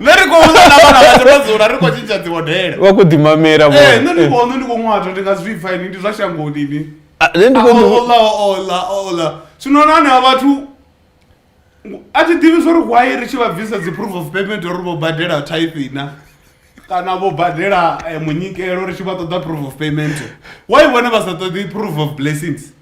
nṋe ri khou vhudza na vhana vhashu ro dzula ri khou tshintsha dzihodela wa khou ḓimamela vho ee nṋe ndi khou nṋe ndi khou ṅwato ndi nga zwi pfa ini ndi zwa shangoni ini Ah, nṋe ndi khou ḓi- ola ola ola zwino na hanevha vhathu a thi ḓivhi zwo ri why ri tshi vha bvisa dzi proof of payment uri vho badela type na kana vho badela eh, munyikelo ri tshi vha ṱoḓa proof of payment why vhone vha sa ṱoḓi proof of blessings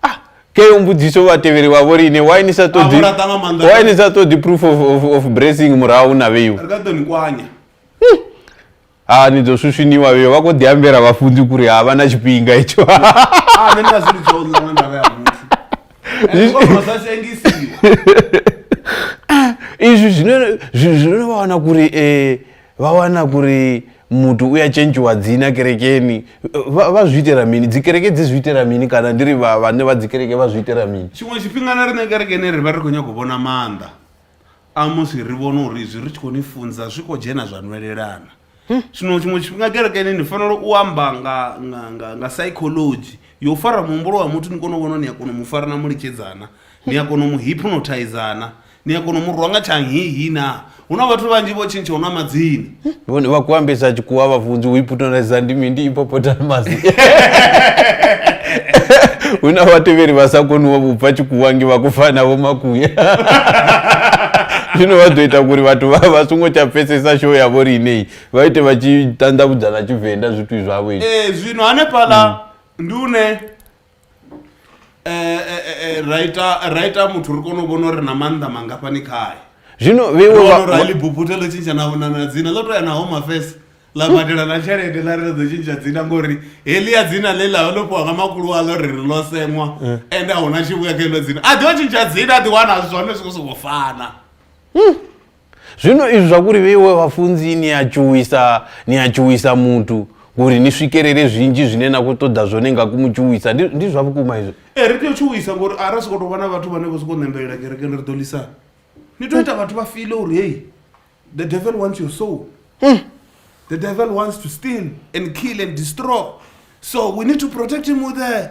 ah ke yo mbudziso vhatevheli vha vho lini why ni sa ṱoḓi Ahora está mamando. why ni sa ṱoḓi proof of, of, of bracing murahu na vheiwa Re ka ḓo ni kwanya. ha ni ḓo swuswiniwa vheiwa vha khou ḓi ambela vhafunzi kuri ha vha na tshifhinga itsho Ah, nṋe ndi nga zwi lidza u ḽa nga ndavha ya muthu. Ende u kona u sa sengisiwa. izvi zvino- zvi- zvinova wana kuri eh, vha wana kuri muthu uya tshentshiwa dzina kerekeni vha zwi itela mini dzikereke dzi zwi itela mini kana ndi ri vhane vha dzikereke vha zwi itela mini tshiṅwe tshifhinga na riṋe kerekeni ri vha ri khou nyanga u vhona maanḓa a musi ri vhone uri izwi ri tshi khou ni funza zwi khou dzhena zwa nwelelana hm? zwino tshiṅwe tshifhinga kerekeni ni fanela u amba nga nga nga nga psychology yo fara muhumbulo wa muthu ni kone u vhona ni a kona u mu fara na mu litshedzana ni a kona u mu hypnotizana ni a kona u mu rwa nga tshangihi na hu na vhathu vhanzhi vho tshintshaho na madzina vhone vha kuambisa tshikuwa vhafunzi u iputoneza ndi mindi ipopotamasi hu na vhatevheli vha sa koni wa vhubva tshikuwa ngi vha kufana vho makuya zwino vha ḓo ita kuri vhathu vha vha songo tsha pfesesa show yavho ri ineyi vha ite vha tshi ṱanḓavhudza na tshivenḓa zwithu zwavho ee zwino hanefhaḽa ndi une Eh, eh, eh, eh, ra ita ra ita muthu ri kone u vhona uri na maanḓa mangafhani khae zwino vheiwe vha- vha- rorali buputhe ḽo tshintsha na na- na dzina ḽo to ya na home affairs ḽa badela na tshelede ḽa ri ḽa ḓo tshintsha dzina ngori heḽia dzina ḽe ḽa ḽo fhiwa nga makulu aḽo ri ri ḽo seṅwa ende a huna tshivhuya kha heḽo dzina a ḓi o tshintsha dzina a ḓi wana zwone zwi khou sokou fana Zwino izwi zwa kuri vheiwe vhafunzi ni a tshuwisa, ni a tshuwisa muthu kuri ni swikelele zwinzhi zwine na khou ṱoḓa zwone nga ku mu tshuwisa. Ndi, ndi zwa vhukuma izwo. Ee, ri tea u tshuwisa ngori a ra sokou tou vha na vhathu vhane vho sokou ṋembelela kerekeni ri ḓo ḽisana. Ni tea u ita vhathu vha file uri hei, the devil wants your soul. The devil wants to steal and kill and destroy. So we need to protect him with the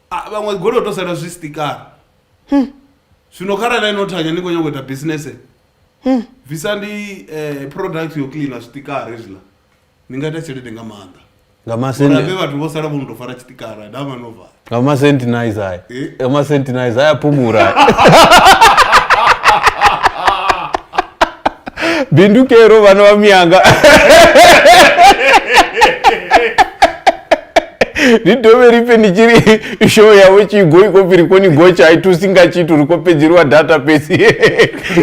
Ah, vhaṅwe goloi u to sala zwi sitikara zwino kharali ino thanya ni khou nyanga u ita bisinese bvisa ndi eh, product yo cleana zwitikara hezwiḽa ni nga ita tshelede nga maanḓa nga uri masenti avhe vhathu vho sala vho no tou fara tshitikara dama no vala nga masenti nice aya Eh? nga masenti nice aya phumura bindu kero vana va miyanga ri dovhe ri pfe ni tshi ri show yavho tshi go i khou pfi ri koni gotsha a i thusi nga tshithu ri khou fhedzeliwa data fhedzi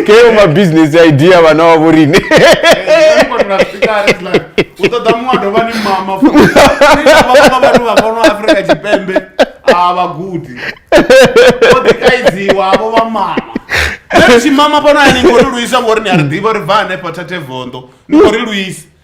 keyo mabusiness idea vhana wavho rine u ṱoḓa muṅwe a dovha ni mama fuiaa vhathu vha fhano afrika tshipembe a vhagudi o ḓikaidziwa vho vha mama tshimama fhano ya ni khou ri luisa ngori ni a ri ḓivha ri bva hanefha thathe vondo ni khou ri luisa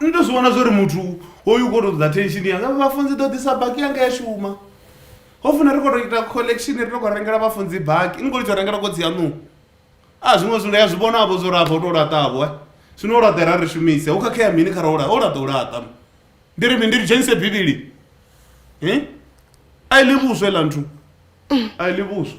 ni to zwi vhona zwori muthu hoyu u khou tou ṱoḓa attention yanga vhafunzi ḓo ḓisa baki yanga ya shuma ho funa ri khou tou ita collection ri to khou rengela vhafunzi baki ni khou litsho rengela kotsi yaṋu a zwiṅwe zwithu ya zwi vhonavho zwo rafha u tou laṱavho zwino u laṱa ra ri shumise hu khakhea mini kha ra u laṱa u laṱa u laṱa ndi ri mini ndi ri dzhenise bivhili a i ḽi vhuswa iḽa nthu a i ḽi vhuswa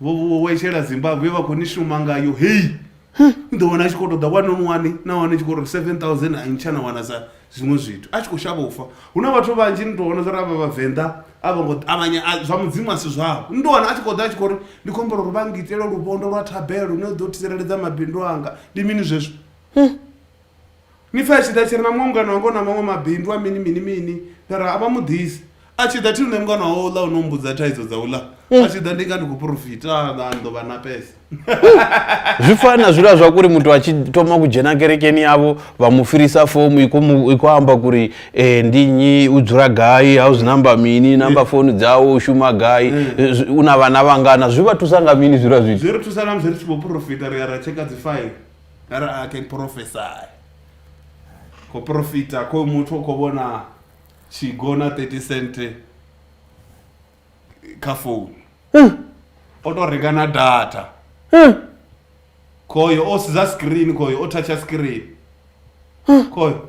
vho vho wa ishela zimbabwe vha khou ni shuma ngayo hei ni ḓo wana a tshi khou ṱoḓa one on one na wane tshi khou ri seven thousand a ntsha na wana sa zwiṅwe zwithu a tshi khou shavha u fa hu na vhathu vhanzhi ni tou vhona zwa ri avha vhavenḓa a vho ngo ṱavhanya a- zwa mudzimu a si zwavho ni tou wana a tshi khou ḓa a tshi khou ri ndi khou humbela uri vha ngitele luvhondo lwa thabelo ni ḓo tsireledza mabindu anga ndi mini zwezwo Ni pfa a tshi ḓa a tshi ri na muṅwe mungana wanga u na maṅwe mabindu a mini mini mini nda ri a vha mu ḓisi a tshi ḓa thi nṋe mungana wawe uḽa o no mbudza thaidzo dza uḽa a tshi ḓa ndi nga ndi khou porofita a ḓa a ndo vha na pesa zwi fana na zwila zwa kuri muthu a tshi thoma ku dzhena kerekeni yavho vha mu firisa fomu i khou mu- i khou amba kuri eh, ndi nnyi u dzula gai house number mini namba founu dzawe u shuma gai eh, zwi- u na vhana vhangana zwi vha thusa nga mini zwila zwithu zwi ri thusa namusi ri tshi vho porofita ri ya ra tsheka dzi faili Arali I can prophesy khou profita khoyu muthu u khou vhona tshigo na 30 cent kha founu o tou renga na data khoyo o sedza screen khoyo o thatsha screen khoyo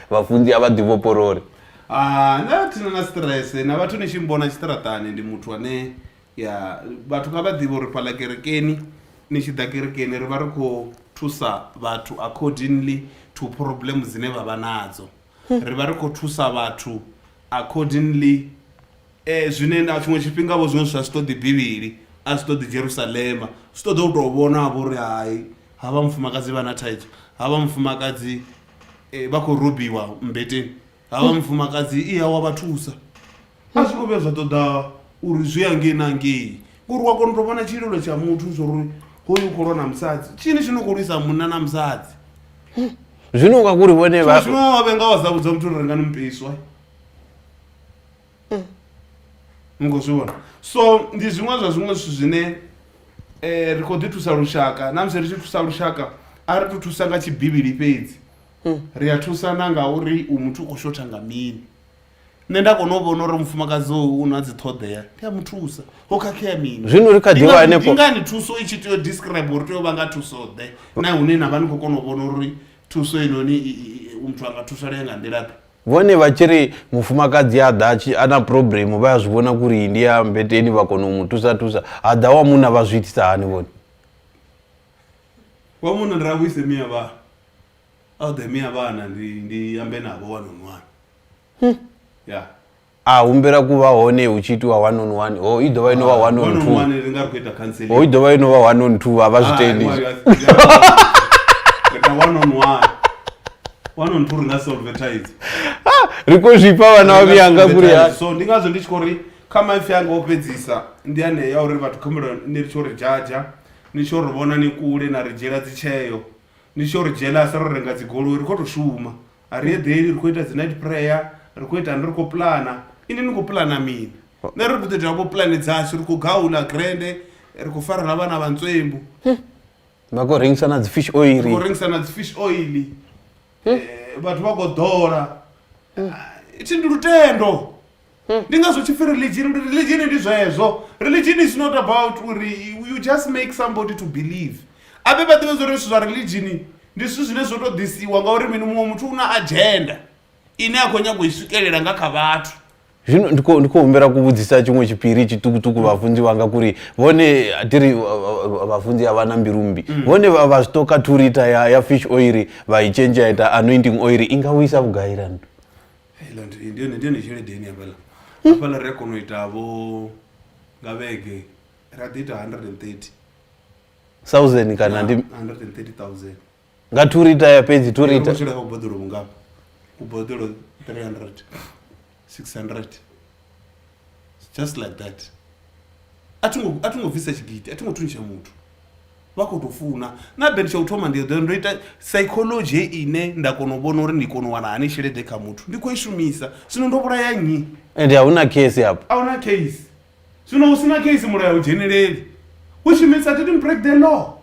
vhafunzi a vha ḓi vhopololi Ah, na thina na stress na vhathu ni tshi mbona tshiṱaraṱani ndi muthu ane ya vhathu kha vha ḓivhe uri fhaḽa kerekeni ni tshi ḓa kerekeni ri vha ri khou thusa vhathu accordingly to problem dzine vha vha nadzo ri vha ri khou thusa vhathu accordingly eh, zwine na tshiṅwe tshifhinga vho zwiṅwe zwa zwi ṱoḓi bivhili a zwi ṱoḓi jerusalema zwi ṱoḓa u tou vhona vho ri hai havha mufumakadzi vha na thaidzo havha mufumakadzi eh, vha khou robiwa mmbeteni havha mufumakadzi iya wa vha thusa a zwi khou vhuya zwa ṱoḓa uri zwi ya ngei na ngei ngori wa kona u tou vhona tshililo tsha muthu zwauri hoyu u khou lwa na musadzi tshini tshi no khou lwisa munna na musadzi zwino nga kuri vhone vha zwino wa vhenga wa sa vhudza muthu uri rengani mupeswa mm. ni khou zwi vhona so ndi zwiṅwe zwa zwiṅwe zwithu zwine um ri khou ḓi thusa lushaka na musi ri tshi thusa lushaka a ri to thusa nga tshibivhili fhedzi mm. ri a thusa na nga uri u muthu u khou shotha nga mini nṋe nda kona u vhona uri mufumakadzi u na dzi ṱhoḓea ndi a mu thusa ho khakhea mini zwino ri kha ḓivha hanefho ngani thuso i tshi tea u describe uri tea u vha nga thuso ḓe na hune na vha ni khou kona u vhona uri thuso inoni muthu a nga thusalea nga nḓila ḓe Vhone vha tshi ri mufumakadzi a ḓa tshi a na problem vha ya zwi vhona kuri ndi ya mbeteni vha kona u mu thusa thusa ha ḓa wa munna vha zwi itisa hani vhone wa munna ndi ravhuise mia vha a ḓe mia vhana ndi ndi ambe navho one on one ya a humbela ku vha hone hu tshi itiwa one on one ho i dovha ino vha one on two ho i dovha ino vha one on two a vha zwi tendi ri khou zwifha vhana wa vhuyanga kule ya so ndi ngazwo ndi tshi khou ri kha maipfi anga o fhedzisa ndi ane ya uri vhathu khumbelo ni ri tshi uri jaja ni tshi uri vhona ni kule na ri dzhiela dzitsheo ni tshi uri jealous ro renga dzigoloi ri khou tou shuma A ri eḓeli, ri khou ita dzi night prayer, ri khou itani, ri khou puḽana. Inwi ni khou puḽana mini? Nṋe ri ri ḓo ita vho puḽane dzashu, ri khou gaula grande, ri khou farela vhana vha ntswembu. Vha khou rengisa na dzi fish oil. Ri khou rengisa na dzi fish oil. Vhathu vha khou ḓola. Thi ndi lutendo. ndi ngazwo tshi pfi religion uri religion ndi zwezwo religion is not about uri you just make somebody to believe abe vha ḓivhe zwa uri zwithu zwa religion ndi zwithu zwine zwo to ḓisiwa ngauri mini muṅwe muthu u na agenda ine a khou nyanga u i swikelela nga kha vhathu zvino ndi khou- ndi khou humbela kuvhudzisa tshiṅwe tshipiri tshiṱukuṱuku vhafunzi wanga kuri vhone tiri vhafunzi a vha na mbilu mmbi vhone vha vha zwi toka turita ya, ya fish oil vha i change ya ita anointing oil i nga vhuisa vhugailani heiḽa ndi ndi yone ndi yone tshelede ine hafhaḽa hafhaḽa ri a kona u ita vho nga vhege ra ḓi ita 130 thousand kana ndi 130000 nga two rita ya fhedzi two rita tshila kha kuboḓelo vhungafha kuboḓelo 300 600 just like that a thi ngo bvisa tshigidi a thi ngo thuntsha muthu vha khou tou funa na bend tsha u thoma ndi ḓo ndo ita psychology he ine nda kona u vhona uri ndi kona u wana hani tshelede kha muthu ndi khou i shumisa zwino ndo vhulaya nnyi ende a hu na case hapo a hu na case zwino hu si na case mulayo u dzheneleli which means i didn't break the law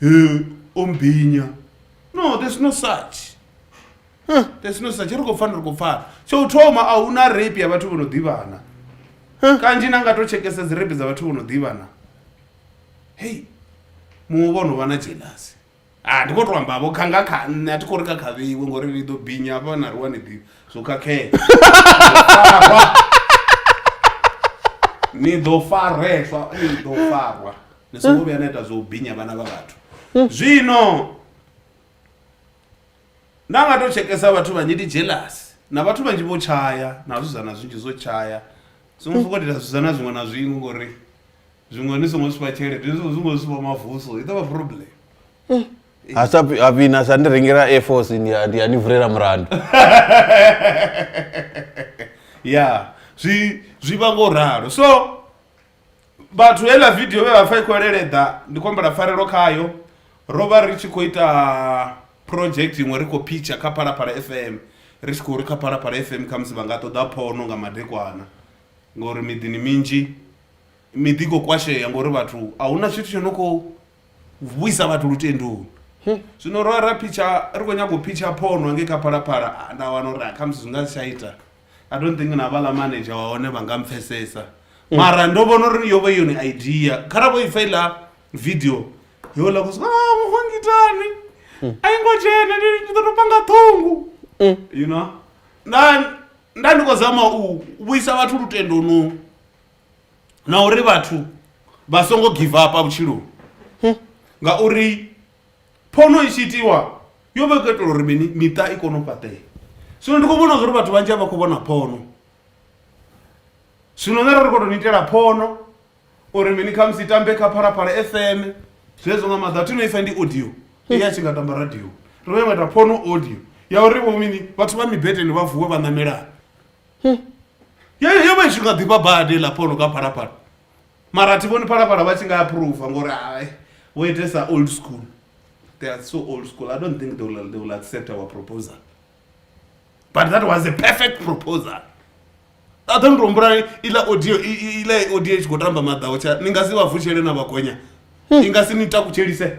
He ombhinya no there's no such huh. there's no such ri khou pfana ri khou pfana tsho u thoma a huna rape ya vhathu vho no ḓivhana huh. kanzhi na nga to tshekesa dzi rape dza vhathu vho no ḓivhana hei muṅwe vho no vha na jelasi a ndi khou to amba vho kha nga kha nṋe a thi khou ri kha khavhiwe ngori ri ḓo binya hafha na ri wani ḓivha zwo khakhea ni ḓo fareswa ni ḓo farwa ni songo vhuya na ita zwo u binya vhana vha vhathu zwino nda nga to tshekesa vhathu vhanzhi ndi jealous na vhathu vhanzhi vho tshaya na zwizana zwinzhi zwo tshaya songo sokou ita zwizana zwiṅwe na zwiṅwe ngori zwiṅwe ni songo zwifha tshelede ni songo zwiṅwe zwifha mavuso i ḓovha problem ha sa pi- ha vhina sa ndi rengela air force ndi a- ndi a ni vulela mulandu ya zwi zwi vha ngo ralo so vhathu heiḽa vidio vhe vha pfha i khou leleḓa ndi khou humbela pfarelo khayo ro vha ri tshi khou ita project iṅwe ri khou pitcha kha phalaphala f m ri tshi khou ri kha phalaphala f m khamusi vha nga ṱoḓa phono nga madekwana ngori miḓini minzhi miḓi i khou kwashea ngori vhathu a hu na tshithu tsho no khou u vhuisa vhathu lutendoni zwino ro ra phitsha ri khou nyanga u phitsha phono nge kha phalaphala ah, nda wana uri ah, khamusi zwi nga si tsha ita i don't think na vhala manager wa hone vha nga mpfesesa mm. mara ndo vhona uri yo vha yone idea kha ra vho i faila video yo la kusi ah muhongitani mm. a yi ngo dzhena ndi ḓo tou panga ṱhungu mm. you know nda nda ndi khou zama u vhuisa vhathu lutendonu na uri vhathu vha songo give up vhutshiloni ngauri phono i tshi itiwa yo vha i khou itela uri mini miṱa i kone u fhaṱea zwino ndi khou vhona zwa uri vhathu vhanzhi a vha khou vhona phono zwino nṋe ro ri khou tou ni itela phono uri mini khamusi i tambe kha phalaphala fm zwezwo nga maḓa thi no isa ndi audio i a tshi nga tamba radio ri vha yo nga ita phono audio ya uri vho mini vhathu vha mibeteni vha vuwe vha ṋamelani yo vha i tshi nga ḓifha badi la phono ka phalaphala mara thi vhoni phalaphala vha tshi nga approva ngori hai wo itesa old school they are so old school i don't think they will, they will accept our proposal but that was a perfect proposal aḓo ndi humbula iḽa audio iḽa audio i tshi khou tamba maḓaho tsha ni nga si vha vutshele na vhagonya i nga si ni takutshelise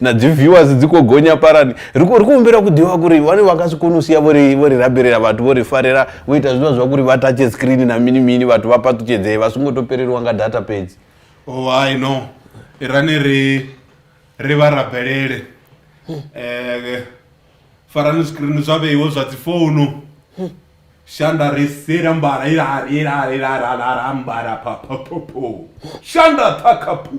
na dzi viewers dzi khou gonya parani ri khou humbela ku ḓivha kuri vhane vha nga si kone u sia vho ri vho ri rabelela vhathu vho ri farela vho ita zwivha zwa kuri vha tatshe screen na mini mini vhathu vha paṱutshedzee vha songo to peleliwa nga data fhedzi oh i know irani ri ri vha rabelele eh farani screen zwa vheiwe zwa dzi founu shanda ri sira mbala ila ila ila ila ila mbala pha pha pha shanda thakha phu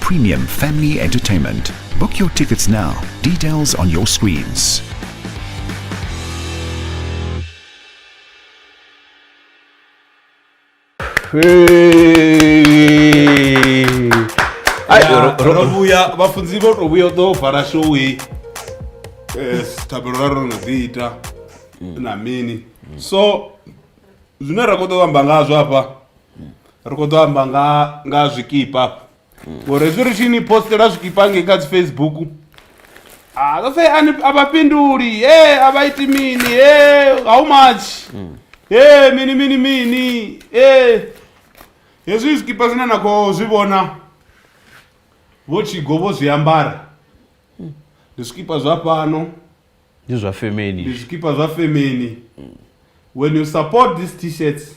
Premium Family Entertainment. Book your tickets now. Details on your screens. Ai, ro- ro- rovhuya vhafunzi vho to vhuya u ḓo vala showi thabelo ra ro no dzi ita na mini so zwine ra khou ḓo amba ngazwo hafha ri khou ḓo amba nga nga zwikipa ngori hezwi ri tshi ni postela zwikipa ngei kha dzi facebook ah, they'll say "Ani- a vha fhinduli e a vha iti mini e how much e mini mini mini e hezwi zwikipa zwine na khou zwi vhona vho tshigo vho zwi ambara ndi zwikipa zwa fhano ndi zwa ndi femeni zwikipa zwa femeni when you support these t-shirts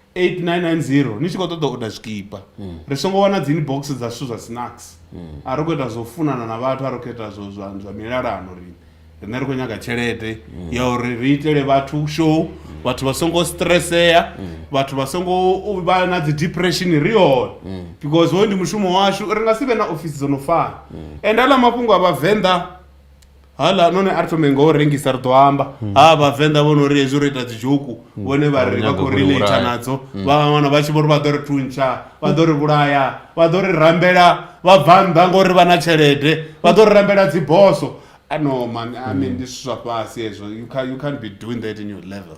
8990 ni tshi khou ṱoḓa u oda zwikipa hmm. ri songo wana dzi inbox dza zwithu zwa snacks hmm. a ri khou ita zwo funana na vhathu a ri khou ita zwo zwa zwa milalano ri rine ri khou nyaga tshelede hmm. ya uri ri itele vhathu show vhathu vha songo stressea vhathu vha songo vha na dzi depression ri hone because hoyu ndi mushumo washu ri nga si vhe na ofisi dzo no fana and aḽa mafhungo a vhavenḓa hala none a ri thome ngo rengisa ri ḓo amba hmm. ha vhavenḓa vho no ri hezwi ro ita dzidzhoku hmm. vhone vha ri vha khou relata nadzo hmm. vha wana vha tshi vho ri vha ḓo ri thuntsha vha ḓo ri vhulaya vha ḓo ri rambela vha bva nnḓa ngori vha na tshelede vha ḓo ri rambela dziboso ano man i mean ndi zwithu zwa fhasi hezwo you can't be doing that in your level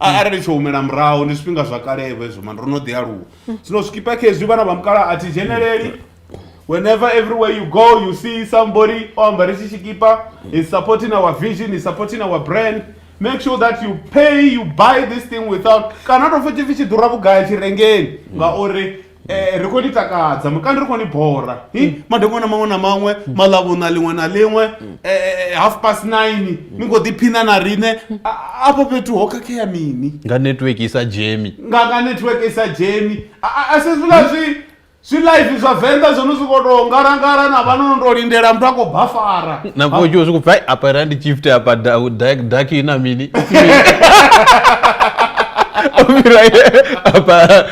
A- arali tsho humela murahu ndi zwifhinga zwa kalevho hezwo mani ro no ḓi aluwa zwino zwikipa khezwi vhana vha mukala a thi dzheneleli whenever everywhere you go you see somebody o ambare tshi tshikipa is supporting our vision is supporting our brand make sure that you pay you buy this thing without kana tou pfhi tshipfi tshi ḓura vhugai tshirengeni ngauri Eh, ri khou ni takadza mukandi ri khou ni bora hi madekwana maṅwe na maṅwe maḽavhuna ḽiṅwe na ḽiṅwe eh, eh, half past nine ni khou ḓiphina na riṋe A- afho fhethu ho khakhea mini nga network i sa dzhemi nga nga network i sa dzheni A- a- a si zwiḽa zwi zwi live zwa venḓa zwo no zwi khou tou ngalangala na vhano no tou lindela muthu a khou bafara na vho tshiwo zwiku pfai apa ra ndi chift apa da- da- dark ina mini Ofira, apa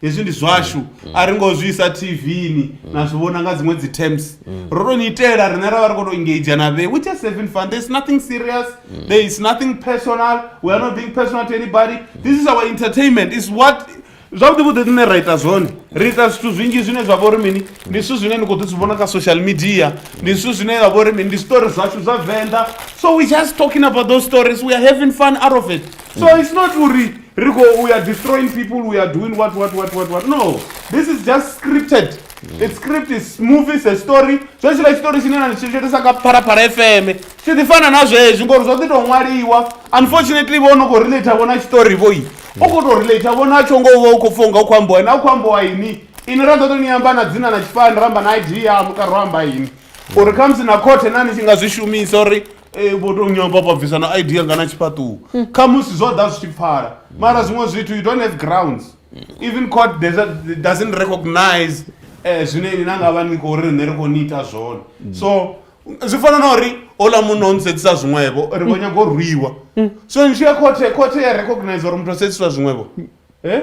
hezwi ndi zwashu mm. a ri ngo zwi isa tvni mm. na zwi vhona nga dziṅwe dzi terms mm. ro to ni itela rine ra vha ri kho to engage na vhe which is seven fun there is nothing serious mm. there is nothing personal we are not being personal to anybody mm. this is our entertainment is what zwavhuḓi vhuḓi rine ra ita zwone ri ita zwithu zwinzhi zwine zwa vha uri mini ndi zwithu zwine ni kho ḓi zwi vhona kha social media ndi zwithu zwine zwa vha uri mini ndi story zwashu zwa venḓa so we just talking about those stories we are having fun out of it so mm. it's not uri ri khou we are destroying people we are doing what what what what what no this is just scripted mm. its script is movie is a story zwo tshila tshitori tshine na tshi tshoitisa nga pharapara fm tshi ḓi fana na zwezwi ngori zwo ḓi tou ṅwaliwa unfortunately vho no khou relate vho na tshitori vho i u khou tou relate vho na tsho ngo vha u khou pfha unga u khou ambiwa na u khou ambiwa ini ini ra ḓo tou ni amba na dzina na tshifani ra amba na id ya mukaro amba ini uri khamusi na khothe na ni tshi nga zwi shumisa uri Eh, vho to nyomba vha bvisa na id yanga na tshifhaṱuwo hmm. kha musi zwo ḓa zwi tshi pfala mara zwiṅwe zwithu you don't have grounds even court doesn't recognize um zwine ini na nga vha ni khou ri rine ri khou ni ita zwone hmm. so zwi fana na uri ola munna o nisedzisa zwiṅwevho ri vho nyaga u rwiwa so ni tshi ya khothe khothe ya recognize uri muthu o sedziswa zwiṅwevho e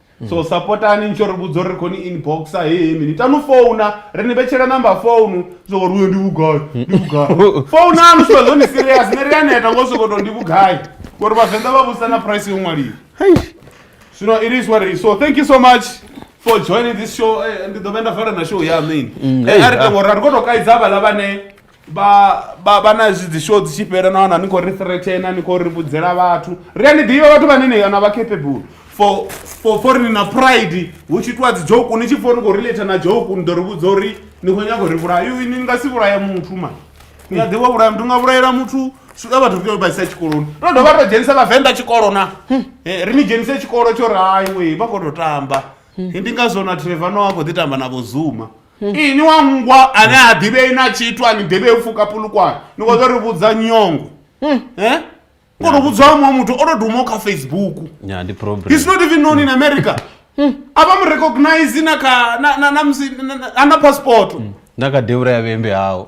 so mm. sapotani nitsho ri vhudza uri ri khoni inboxa hehe mini tanu founa ri ni vhetshela number founu soko ri uyo ndi vhugai mm. ndi vhugai founanu swa zwoni serious ni ri aneta ngo soko to ndi vhugai ngori vhavenḓa vha vhusa na price yo ṅwaliwa zwino it is what it is so thank you so much for joining this show eh, ndi ḓo vhe nda fara na show ya mini mm, eh, a ri tengo ra ri kho to kaidza vhala vhane vha vha vha na zwi dzi show dzi tshi fhela na wana ni khou ri threatena ni khou ri vhudzela vhathu ri a ni ḓivha vhathu vhane ni yona vha capable for for for ni na pride hu tshi itiwa dzi joke ni tshi pfha uri khou relate na joke ni ḓo ri vhudza uri ni khou nyanga uri vhulaya yo ni nga si vhulaya muthu ma ni a ḓivha vhulaya muthu nga vhulayela muthu swika vhathu ri vha isa tshikoloni ro dovha ro dzhenisa vhavenḓa tshikolo na ri ni dzhenise tshikolo tsho ri hai wei vha khou tou tamba ndi ngazwo na trevor no a khou ḓi tamba na vho zuma Hmm. Ee ni wa nngwa ane ha ḓivhei na tshithu a ni ḓivhei u pfuka pulukwane ni khou ḓo ri vhudza nyongo hmm. e u khou tou vhudza wa muṅwe muthu o tou dumaho kha facebook is not even known in hmm. america a vha mu recognize na kha na musi ana passport na kha deura ya vhembe hao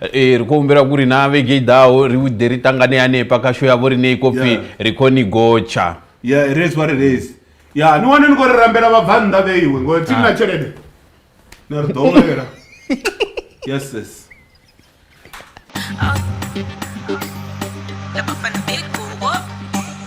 e ri khou humbela kuri na vhege i ḓaho ri ḓe ri ṱangane hanefha kha sho yavho rine i khou pfhi ri khou ni gotsha ya it is what it is ya ni wane ni khou ri rambela vhabvannḓa vhe iwe ngori thi na ah. tshelede na ri ḓowela yes sis